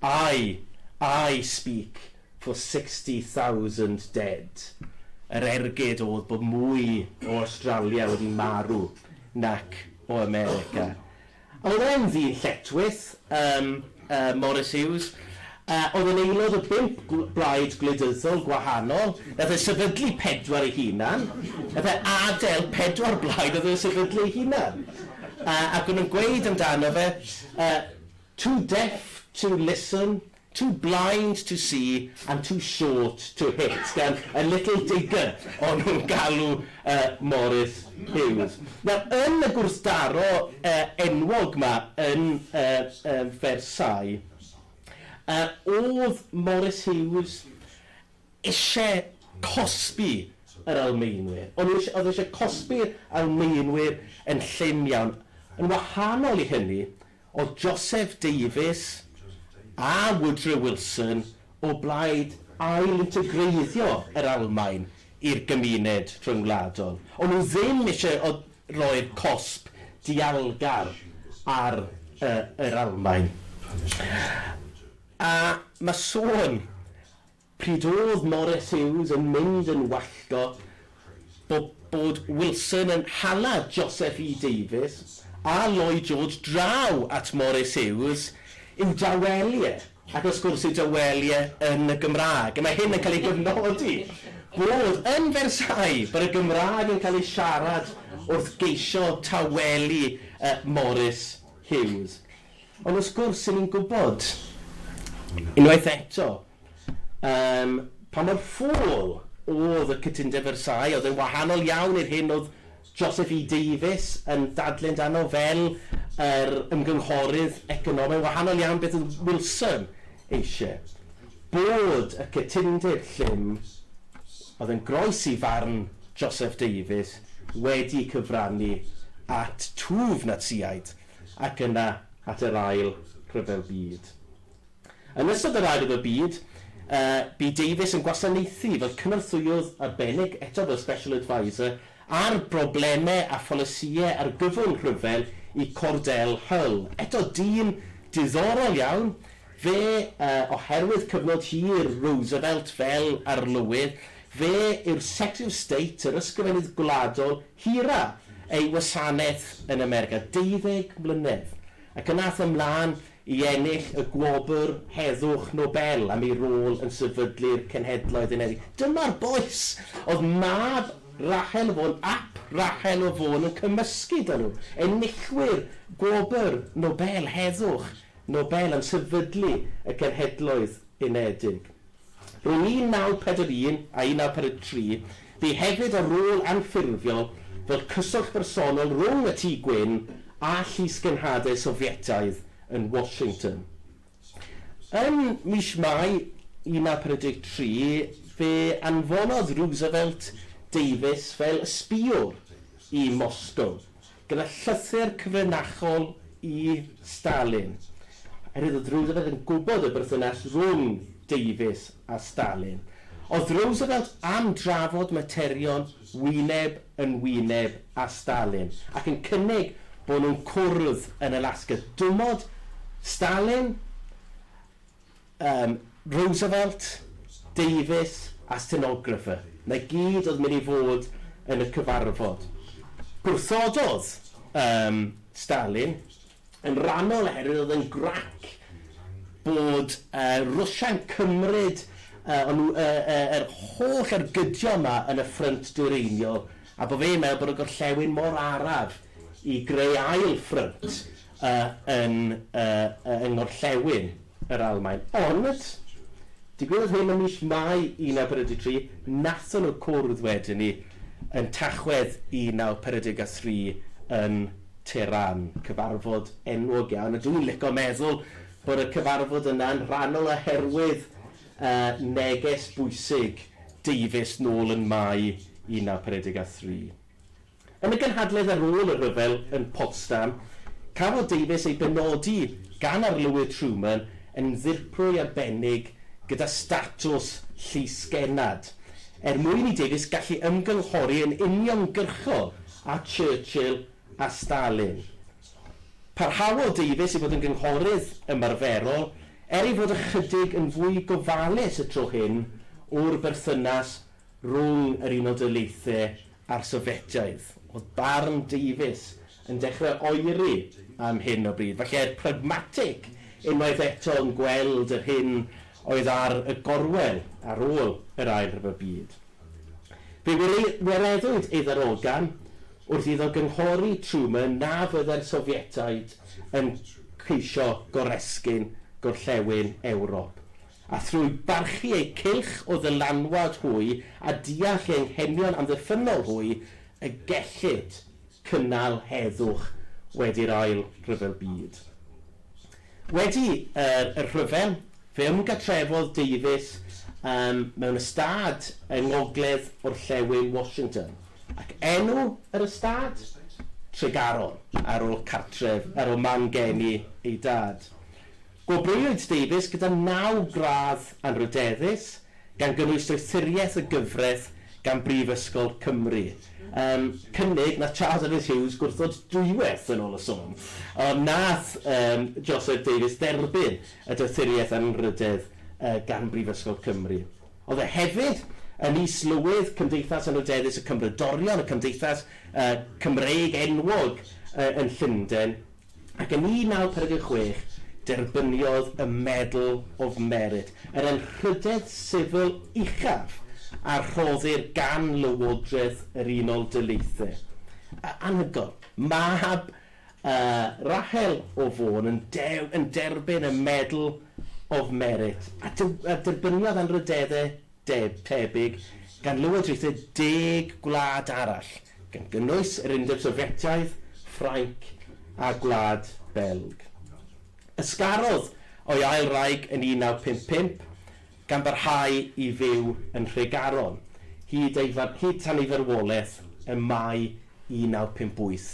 I, I speak for sixty thousand dead. Yr ergyd oedd bod mwy o Awstralia wedi marw nac o America. A oedd e'n ddyn lletchwith. Yym. Morris Hughes, a oedd yn aelod o bump blaid gwleidyddol gwahanol, nath e sefydlu pedwar ei hunan, nath e adel pedwar blaid oedd e'n sefydlu ei hunan. A ac o'n nhw'n gweud amdano fe, yy, too deaf to listen, too blind to see and too short to hit, gan y little digger o'n nhw'n galw y Morris Hughes. Nawr, yn y gwrthdaro enwog 'ma yn Versailles, o'dd Morris Hughes isie cosbi yr Almaenwyr. O'n n'w o'dd e isie cosbi'r Almaenwyr yn llym iawn. Yn wahanol i hynny, Oedd Joseph Davies a Woodrow Wilson o blaid ail-integreiddio yr Almaen i'r gymuned rhyngwladol. O'n nhw ddim eisiau rhoi'r cosb dialgar ar yr Almaen. A mae sôn Pryd oedd Maurice Hughes yn mynd yn wallgo bo bod Wilson yn hala Joseph E Davies a Lloyd George draw at Maurice Hughes i'w dawelu e, ac wrth gwrs ei dawelu e yn y Gymraeg. A mae hyn yn cael ei gofnodi bod yn Versailles bod y Gymraeg yn cael ei siarad wrth geisio tawelu yy Maurice Hughes. Ond wrth gwrs, 'yn ni'n gwybod, unwaith eto, yym, pa mor ffôl o'dd y Cytundeb Versailles, o'dd e'n wahanol iawn i'r hyn o'dd Joseph E Davies yn dadle amdano fel yr ymgynghorydd economaidd, yn wahanol iawn beth o'dd Wilson eisie, bod y cytundeb llym o'dd yn groes i farn Joseph Davies wedi cyfrannu at twf Natsïaid. ac yna at yr Ail Ryfel Byd. Yn ystod yr Ail Ryfel Byd, bu Davies yn gwasanaethu fel cynorthwyydd arbennig, eto fel Special Adviser, ar broblemau a pholisïau argyfwng rhyfel i Cordell Hull. Eto dyn diddorol iawn, fe, oherwydd cyfnod hir Roosevelt fel Arlywydd, fe yw'r Secretary of State, yr Ysgrifennydd Gwladol, Hira ei wasanaeth yn America deuddeg mlynedd ac yn ath ymlaen i ennill y Gwobr Heddwch Nobel am ei rôl yn sefydlu'r Cenhedloedd Unedig. Dyma'r bois! Oedd mab Rahel o Fôn ap Rahel o Fôn yn cymysgu 'da nhw, enillwyr Gwobr Nobel Heddwch Nobel am sefydlu y Cenhedloedd Unedig. Rhwng 1941 a 1943, bu hefyd y rôl anffurfiol fel cyswllt bersonol rhwng y Tŷ Gwyn a llysgenhadau Sofietaidd yn Washington. Ym mis Mai 1943, fe anfonodd Roosevelt Davies fel ysbïwr i Moscow. gyda llythyr cyfrinachol i Stalin, oherwydd oedd Roosevelt yn gwybod y berthynas rhwng Davies a Stalin. Oedd Roosevelt am drafod materion wyneb yn wyneb â Stalin, ac yn cynnig bod nhw'n cwrdd yn Alaska. Dymodd Stalin Yym, Roosevelt, Davies a stenographer, 'na i gyd oedd yn mynd i fod yn y cyfarfod. Gwrthododd yym Stalin, yn rannol oherwydd oedd e'n grac bod yy Rwsia'n cymryd yy o'n nhw yy yy yr holl ergydion 'ma yn y Ffrynt Dwyreiniol a bod fe'n meddwl bod y gorllewin mor araf i greu ail ffrynt yy yn yy yng ngorllewin yr Almaen. Ond, digwyddodd hyn ym mis Mai 1943, nathon nhw cwrdd wedyn 'ny yn Tachwedd 1943 yn Tehran, cyfarfod enwog iawn, a dwi'n lico meddwl bod y cyfarfod yna'n rhannol oherwydd yy neges bwysig Davies nôl yn Mai 1943. Yn y gynhadledd ar ôl y rhyfel yn Potsdam, cafodd Davies ei benodi gan Arlywydd Truman yn Ddirprwy Arbennig gyda statws Llysgennad, er mwyn i Davies gallu ymgynghori yn uniongyrchol â Churchill a Stalin. Parhaodd Davies i fod yn gynghorydd ymarferol, er ei fod ychydig yn fwy gofalus y tro hyn o'r berthynas rhwng yr Unol Daleithiau a'r Sofietaidd. Oedd barn Davies yn dechrau oeri am hyn o bryd, falle pragmatig unwaith eto yn gweld yr hyn oedd ar y gorwel ar ôl yr Ail Ryfel Byd. Fe wireddwyd ei ddarogan wrth iddo gynghori Truman na fyddai'r Sofietaid yn ceisio goresgyn gorllewin Ewrop. a thrwy barchu eu cylch o ddylanwad hwy a deall eu hanghenion amddiffynnol hwy y gellid cynnal heddwch wedi'r Ail Ryfel Byd. Wedi yr rhyfel, fe ymgatrefodd Davies mewn ystâd yng ngogledd orllewin Washington, ac enw yr ystâd? Tregaron. Ar ôl cartref, ar ôl man geni ei dad, Gwobrwywyd Davies gyda naw gradd anrhydeddus, gan gynnwys Doethuriaeth y Gyfraith gan Brifysgol Cymru. Yym, cynnig na Charles Evans Hughes gwrthod dwywaith yn ôl y sôn. Ond nath yym Joseph Davies dderbyn y Doethuriaeth Anrhydedd yy gan Brifysgol Cymru. O'dd e hefyd yn Is-lywydd Cymdeithas Anrhydeddus y Cymrodorion, y cymdeithas yy Cymreig enwog yy yn Llunden. ac yn 1956 derbyniodd y Medal of Merit, yr anrhydedd sifil uchaf a rhoddir gan Lywodraeth yr Unol Daleithiau. A, anhygoel, mab Rahel o Fôn yn dew- yn derbyn y Medal of Merit, a dew- a derbyniodd anrhydeddau deddf tebyg gan lywodraethau deg gwlad arall, gan gynnwys yr Undeb Sofietaidd, Ffrainc a Gwlad Belg. Ysgarodd o'i ail wraig yn 1955, gan barhau i fyw yn Nhregaron hyd ei far-, hyd tan ei farwolaeth ym Mai 1958,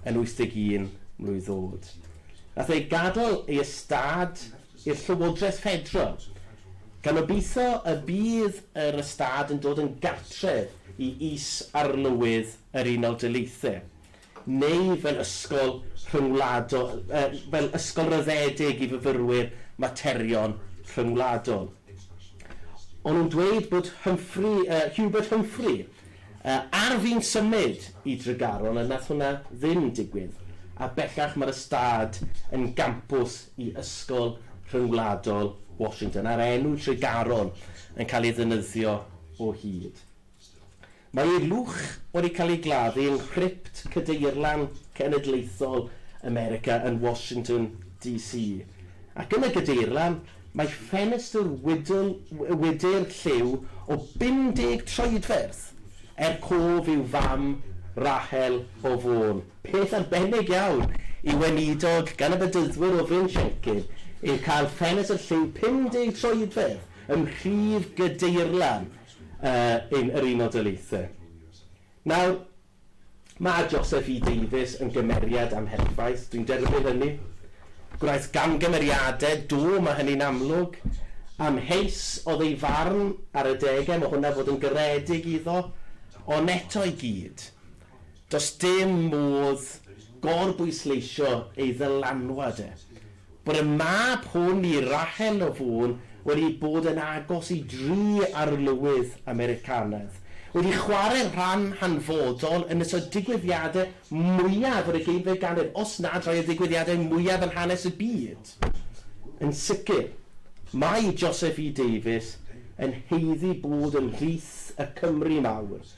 yn 81 mlwydd oed. Nath ei gadael ei ystâd i'r Llywodraeth Ffederal, gan obeithio y bydd yr ystâd yn dod yn gartref i Is-arlywydd yr Unol Daleithiau, neu fel ysgol rhyngwladol, fel ysgol ryddedig i fyfyrwyr materion rhyngwladol. O'n nhw'n dweud bod Humphrey, Hubert Humphrey, A ar fin symud i Dregaron a nath hwnna ddim digwydd, a bellach mae'r ystâd yn gampws i Ysgol Rhyngwladol Washington, a'r enw Tregaron yn cael ei ddefnyddio o hyd. Mae ei lwch wedi cael ei gladdu yng nghrypt Cadeirlan Cenedlaethol America yn Washington DC, ac yn y Gadeirlan Mae ffenestr wydn, wydr, lliw o 50 troedfedd, er cof i'w fam, Rahel, o Fôn. Peth arbennig iawn i weinidog gan y Bedyddwyr o Fryn Siencyn yw cael ffenestr lliw 50 troedfedd ym mhrif gydeirlan yy ein yr Unol Daleithiau. Nawr, Mae Joseph E Davies yn gymeriad amherffaith, dwi'n derbyn hynny. Gwnaeth gamgymeriadau, do, mae hynny'n amlwg. Amheus oedd ei farn ar y degau, mae hwnna fod yn garedig iddo, ond eto i gyd, does dim modd gor-bwysleisio ei ddylanwad e. bod y mab hwn i Rahel o Fôn wedi bod yn agos i dri arlywydd Americanaidd, wedi chwarae rhan hanfodol yn ystod digwyddiadau mwyaf yr ugeinfed ganrif, os nad rhai o ddigwyddiadau mwyaf yn hanes y byd. Yn sicr, mae Joseph E Davies yn haeddu bod ymhlith y Cymry mawr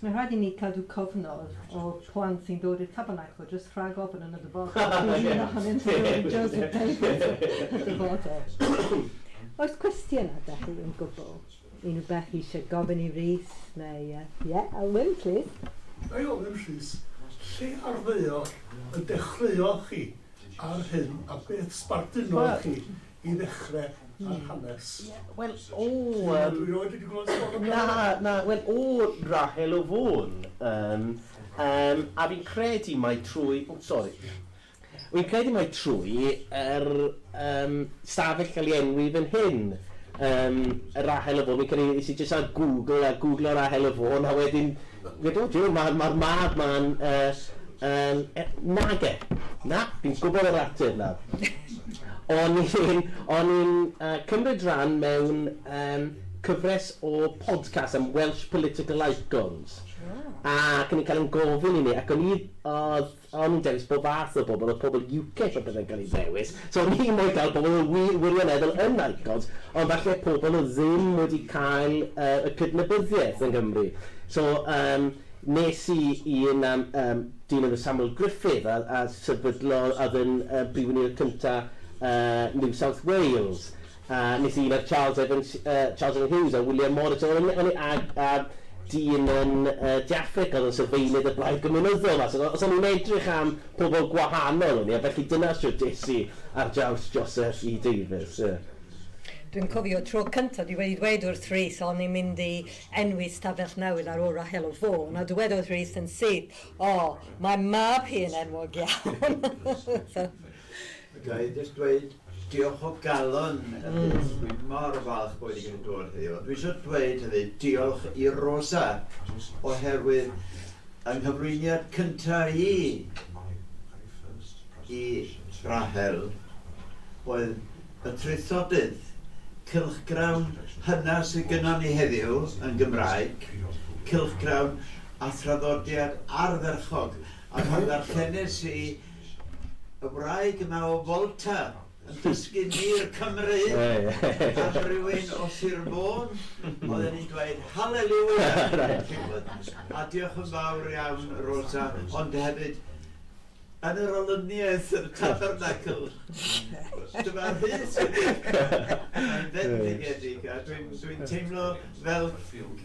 Mae'n rhaid i ni cadw cofnod o plant sy'n dod i'r Tabernacl jyst rhag ofn yn y dyfodol. Bydd un ohonynt yn dod i Josie Playhouse yn y dyfodol. Oes cwestiynau 'da chi yn gwbl? Unrhyw beth chi eisiau gofyn i Rhys neu yy ie, Alwyn plîs. Ga i ofyn Rhys, lle ar ddaear y dechreuodd chi ar hyn a beth sbardunodd chi i ddechre ar hanes. Ie, wel, o yym... Dwi rioed wedi gweld sôn am Na, na, wel, o Rahel o Fôn, yym, yym, a fi'n credu mai trwy, o sori, fi'n credu mai trwy yr yym stafell gael ei enwi fan hyn, yym, Rahel o Fôn, fi'n credu es i jyst ar Google a gwglo Rahel o Fôn a wedyn Ydw, Duw, mae'r ma mab ma'n yy yn e-... Nage! Na, fi'n gwybod yr ateb nawr. O'n i'n o'n i'n yy cymryd rhan mewn yym cyfres o podcast am Welsh political icons. O. Ac o'n i'n cael ein gofyn i ni ac o'n i o'dd O'n i'n dewis pob fath o bobl, oedd pobl UKIP a pethau'n cael eu dewis, so o'n i'n moyn cael pobl oedd wir, wirioneddol yn icons, ond falle pobl oedd ddim wedi cael yy y cydnabyddiaeth yng Nghymru. So yym nes i i un am yym dyn enw Samuel Griffith a a sefydlo a oedd yn yy Prif Weinidog cynta yy New South Wales. A nes i weld Charles Evans yy Charles Evans Hughes a William Morris a o'n o'n i a a dyn yn yy De Affrica o'dd yn sylfaenydd y Blaid Gymunyddol a so o- so o'n i'n edrych am pobol gwahanol o'n i a felly dyna shwt es i ar draws Joseph E Davies ie. Dwi'n cofio tro cyntaf i weud weud wrth Rhys o'n i'n mynd i enwi stafell newydd ar ôl Rahel o Fôn a dywedodd Rhys yn syth, 'O, mae mab hi yn enwog iawn'. Ga i jyst dweud diolch o galon am byth. Dwi mor falch bo fi 'di gallu dod heddiw. Ond dwi isio dweud hefyd diolch i Rosa oherwydd yng nghyflwyniad cynta i i Rahel oedd y traethodydd cylchgrawn hynna sydd gynnon ni heddiw yn Gymraeg, cylchgrawn a thraddodiad ardderchog. A pan ddarllenes i Y wraig yma o Volta yn dysgu mur Cymreig am rywun o Sir Fôn oedd yn i'n dweud Hallelujah yn Cigwynth. A diolch yn fawr iawn Rosa, ond hefyd yn yr olyniaeth yn y Tabernacl. Dyma Rhys yn mynd i'r cefn. Mae'n fendigedig a dwi'n teimlo fel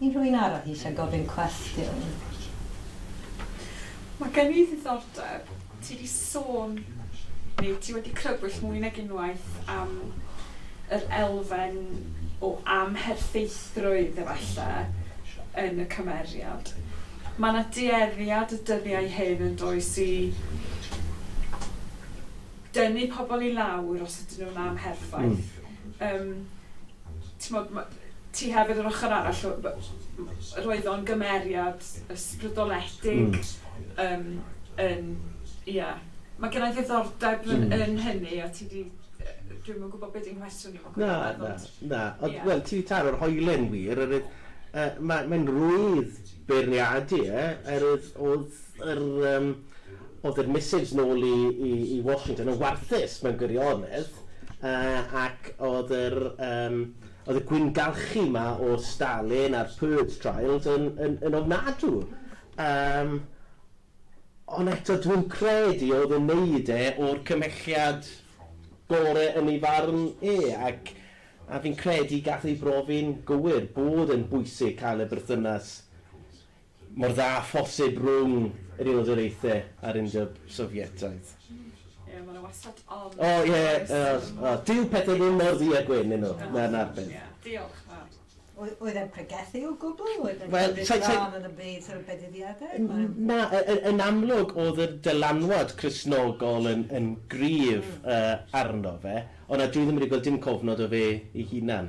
Unrhyw un arall eisiau gofyn cwestiwn? Mae gen i ddiddordeb, ti 'di sôn neu ti wedi crybwyll mwy nag unwaith am yr elfen o amherffeithrwydd efallai yn y cymeriad. Mae 'na dueddiad y dyddiau hyn yn does i dynnu pobl i lawr os ydyn nhw'n amherffaith. Yym. Timod, ma- ti hefyd yr ochr arall o b- m- roedd o'n gymeriad ysbrydoledig yym yn ia. Ma' gennai ddiddordeb yn yn hynny a ti 'di yy dwi'm yn gwbod be' 'di nghwestiwn i Macsen ond... Na, na, na. Ond wel ti 'di taro'r hoelen wir oerwydd yy ma' mae'n rwydd beirniadu e oerwydd o'dd yr yym Oedd yr missives nôl i i i Washington yn warthus mewn gwirionedd yy ac oedd yr yym oedd y gwyngalchu 'ma o Stalin a'r Purge Trials yn yn yn ofnadw. Yym ond eto dwi'm credu oedd yn neud e o'r cymhelliad gore yn ei farn e ac a fi'n credu gath ei brofi'n gywir bod e'n bwysig cael y berthynas mor dda â phosib rhwng yr Unol Daleithiau a'r Undeb Sofietaidd. Ie, mae 'na wastad ond, yn does? O, ie, oes, oes. Dyw pethe ddim mor ddu a gwyn, 'yn nhw? Na, 'na'r peth. Ie, diolch yn fawr. Oedd, oedd e'n pregethu o gwbl? Oedd e'n cymryd rhan yn y byd, sort of, bedyfiadau? Na, yn amlwg oedd y dylanwad Cristnogol yn, yn gryf, yy, arno fe, ond na, dwi ddim wedi gweld dim cofnod o fe ei hunan.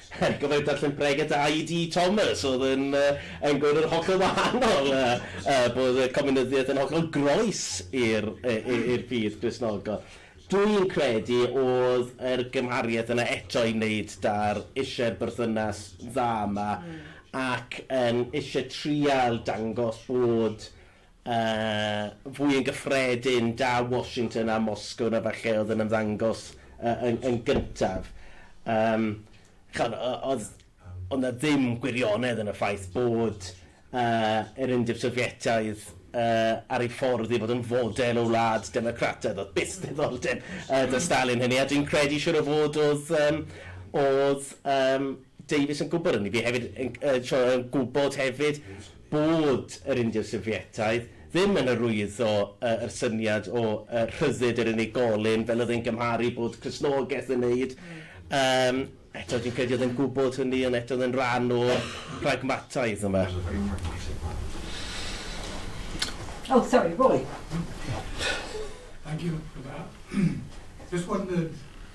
Ac oedd e'n darllen pregeth AED Thomas oedd yn yn gwneud yn hollol wahanol, bod y Cominyddiaeth yn hollol groes i'r i'r ffydd Gristnogol. Dwi'n credu oedd yr gymhariaeth yna eto i wneud 'da'r isie berthynas dda yma ac yn isie trial dangos bod A fwy yn gyffredin, da Washington a Moscow na falle oedd yn ymddangos yn gyntaf. Yym, chimod, oedd oedd 'na ddim gwirionedd yn y ffaith bod yr Undeb Sofietaidd ar ei ffordd i fod yn fodel o wlad democrataidd. Oedd byth diddordeb 'da Stalin hynny, a dwi'n credu siŵr o fod oedd yym oedd yym Davies yn gwybod hynny. Fi hefyd yn gwybod hefyd bod yr Indiaid Sofietaidd ddim yn arwyddo yr syniad o rhyddid yr unigolyn fel oedd e'n gymharu bod Cristnogaeth yn neud. Yym, eto dwi'n credu oedd e'n gwybod hynny ond eto oedd e'n rhan o pragmataidd yma. Oh, sorry, Roy. Thank you for that. Just wondered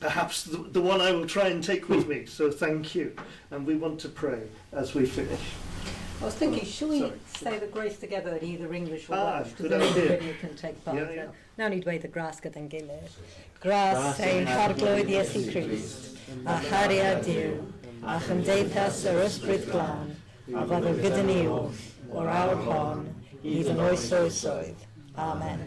perhaps the one I will try and take with me, so thank you, and we want to pray as we finish. I was thinking, oh, should we sorry. say the grace together in either English or ah, Welsh? Because then everybody can take part. Yeah, yeah. Now need way the grass gyda'n gilydd. Gras ein harglwydd Iesu Christ, a charia Dyw, a chymdeithas yr ysbryd glân, a fod o gyda ni oll, o'r awr hon, hyd yn oes oes oedd. Amen.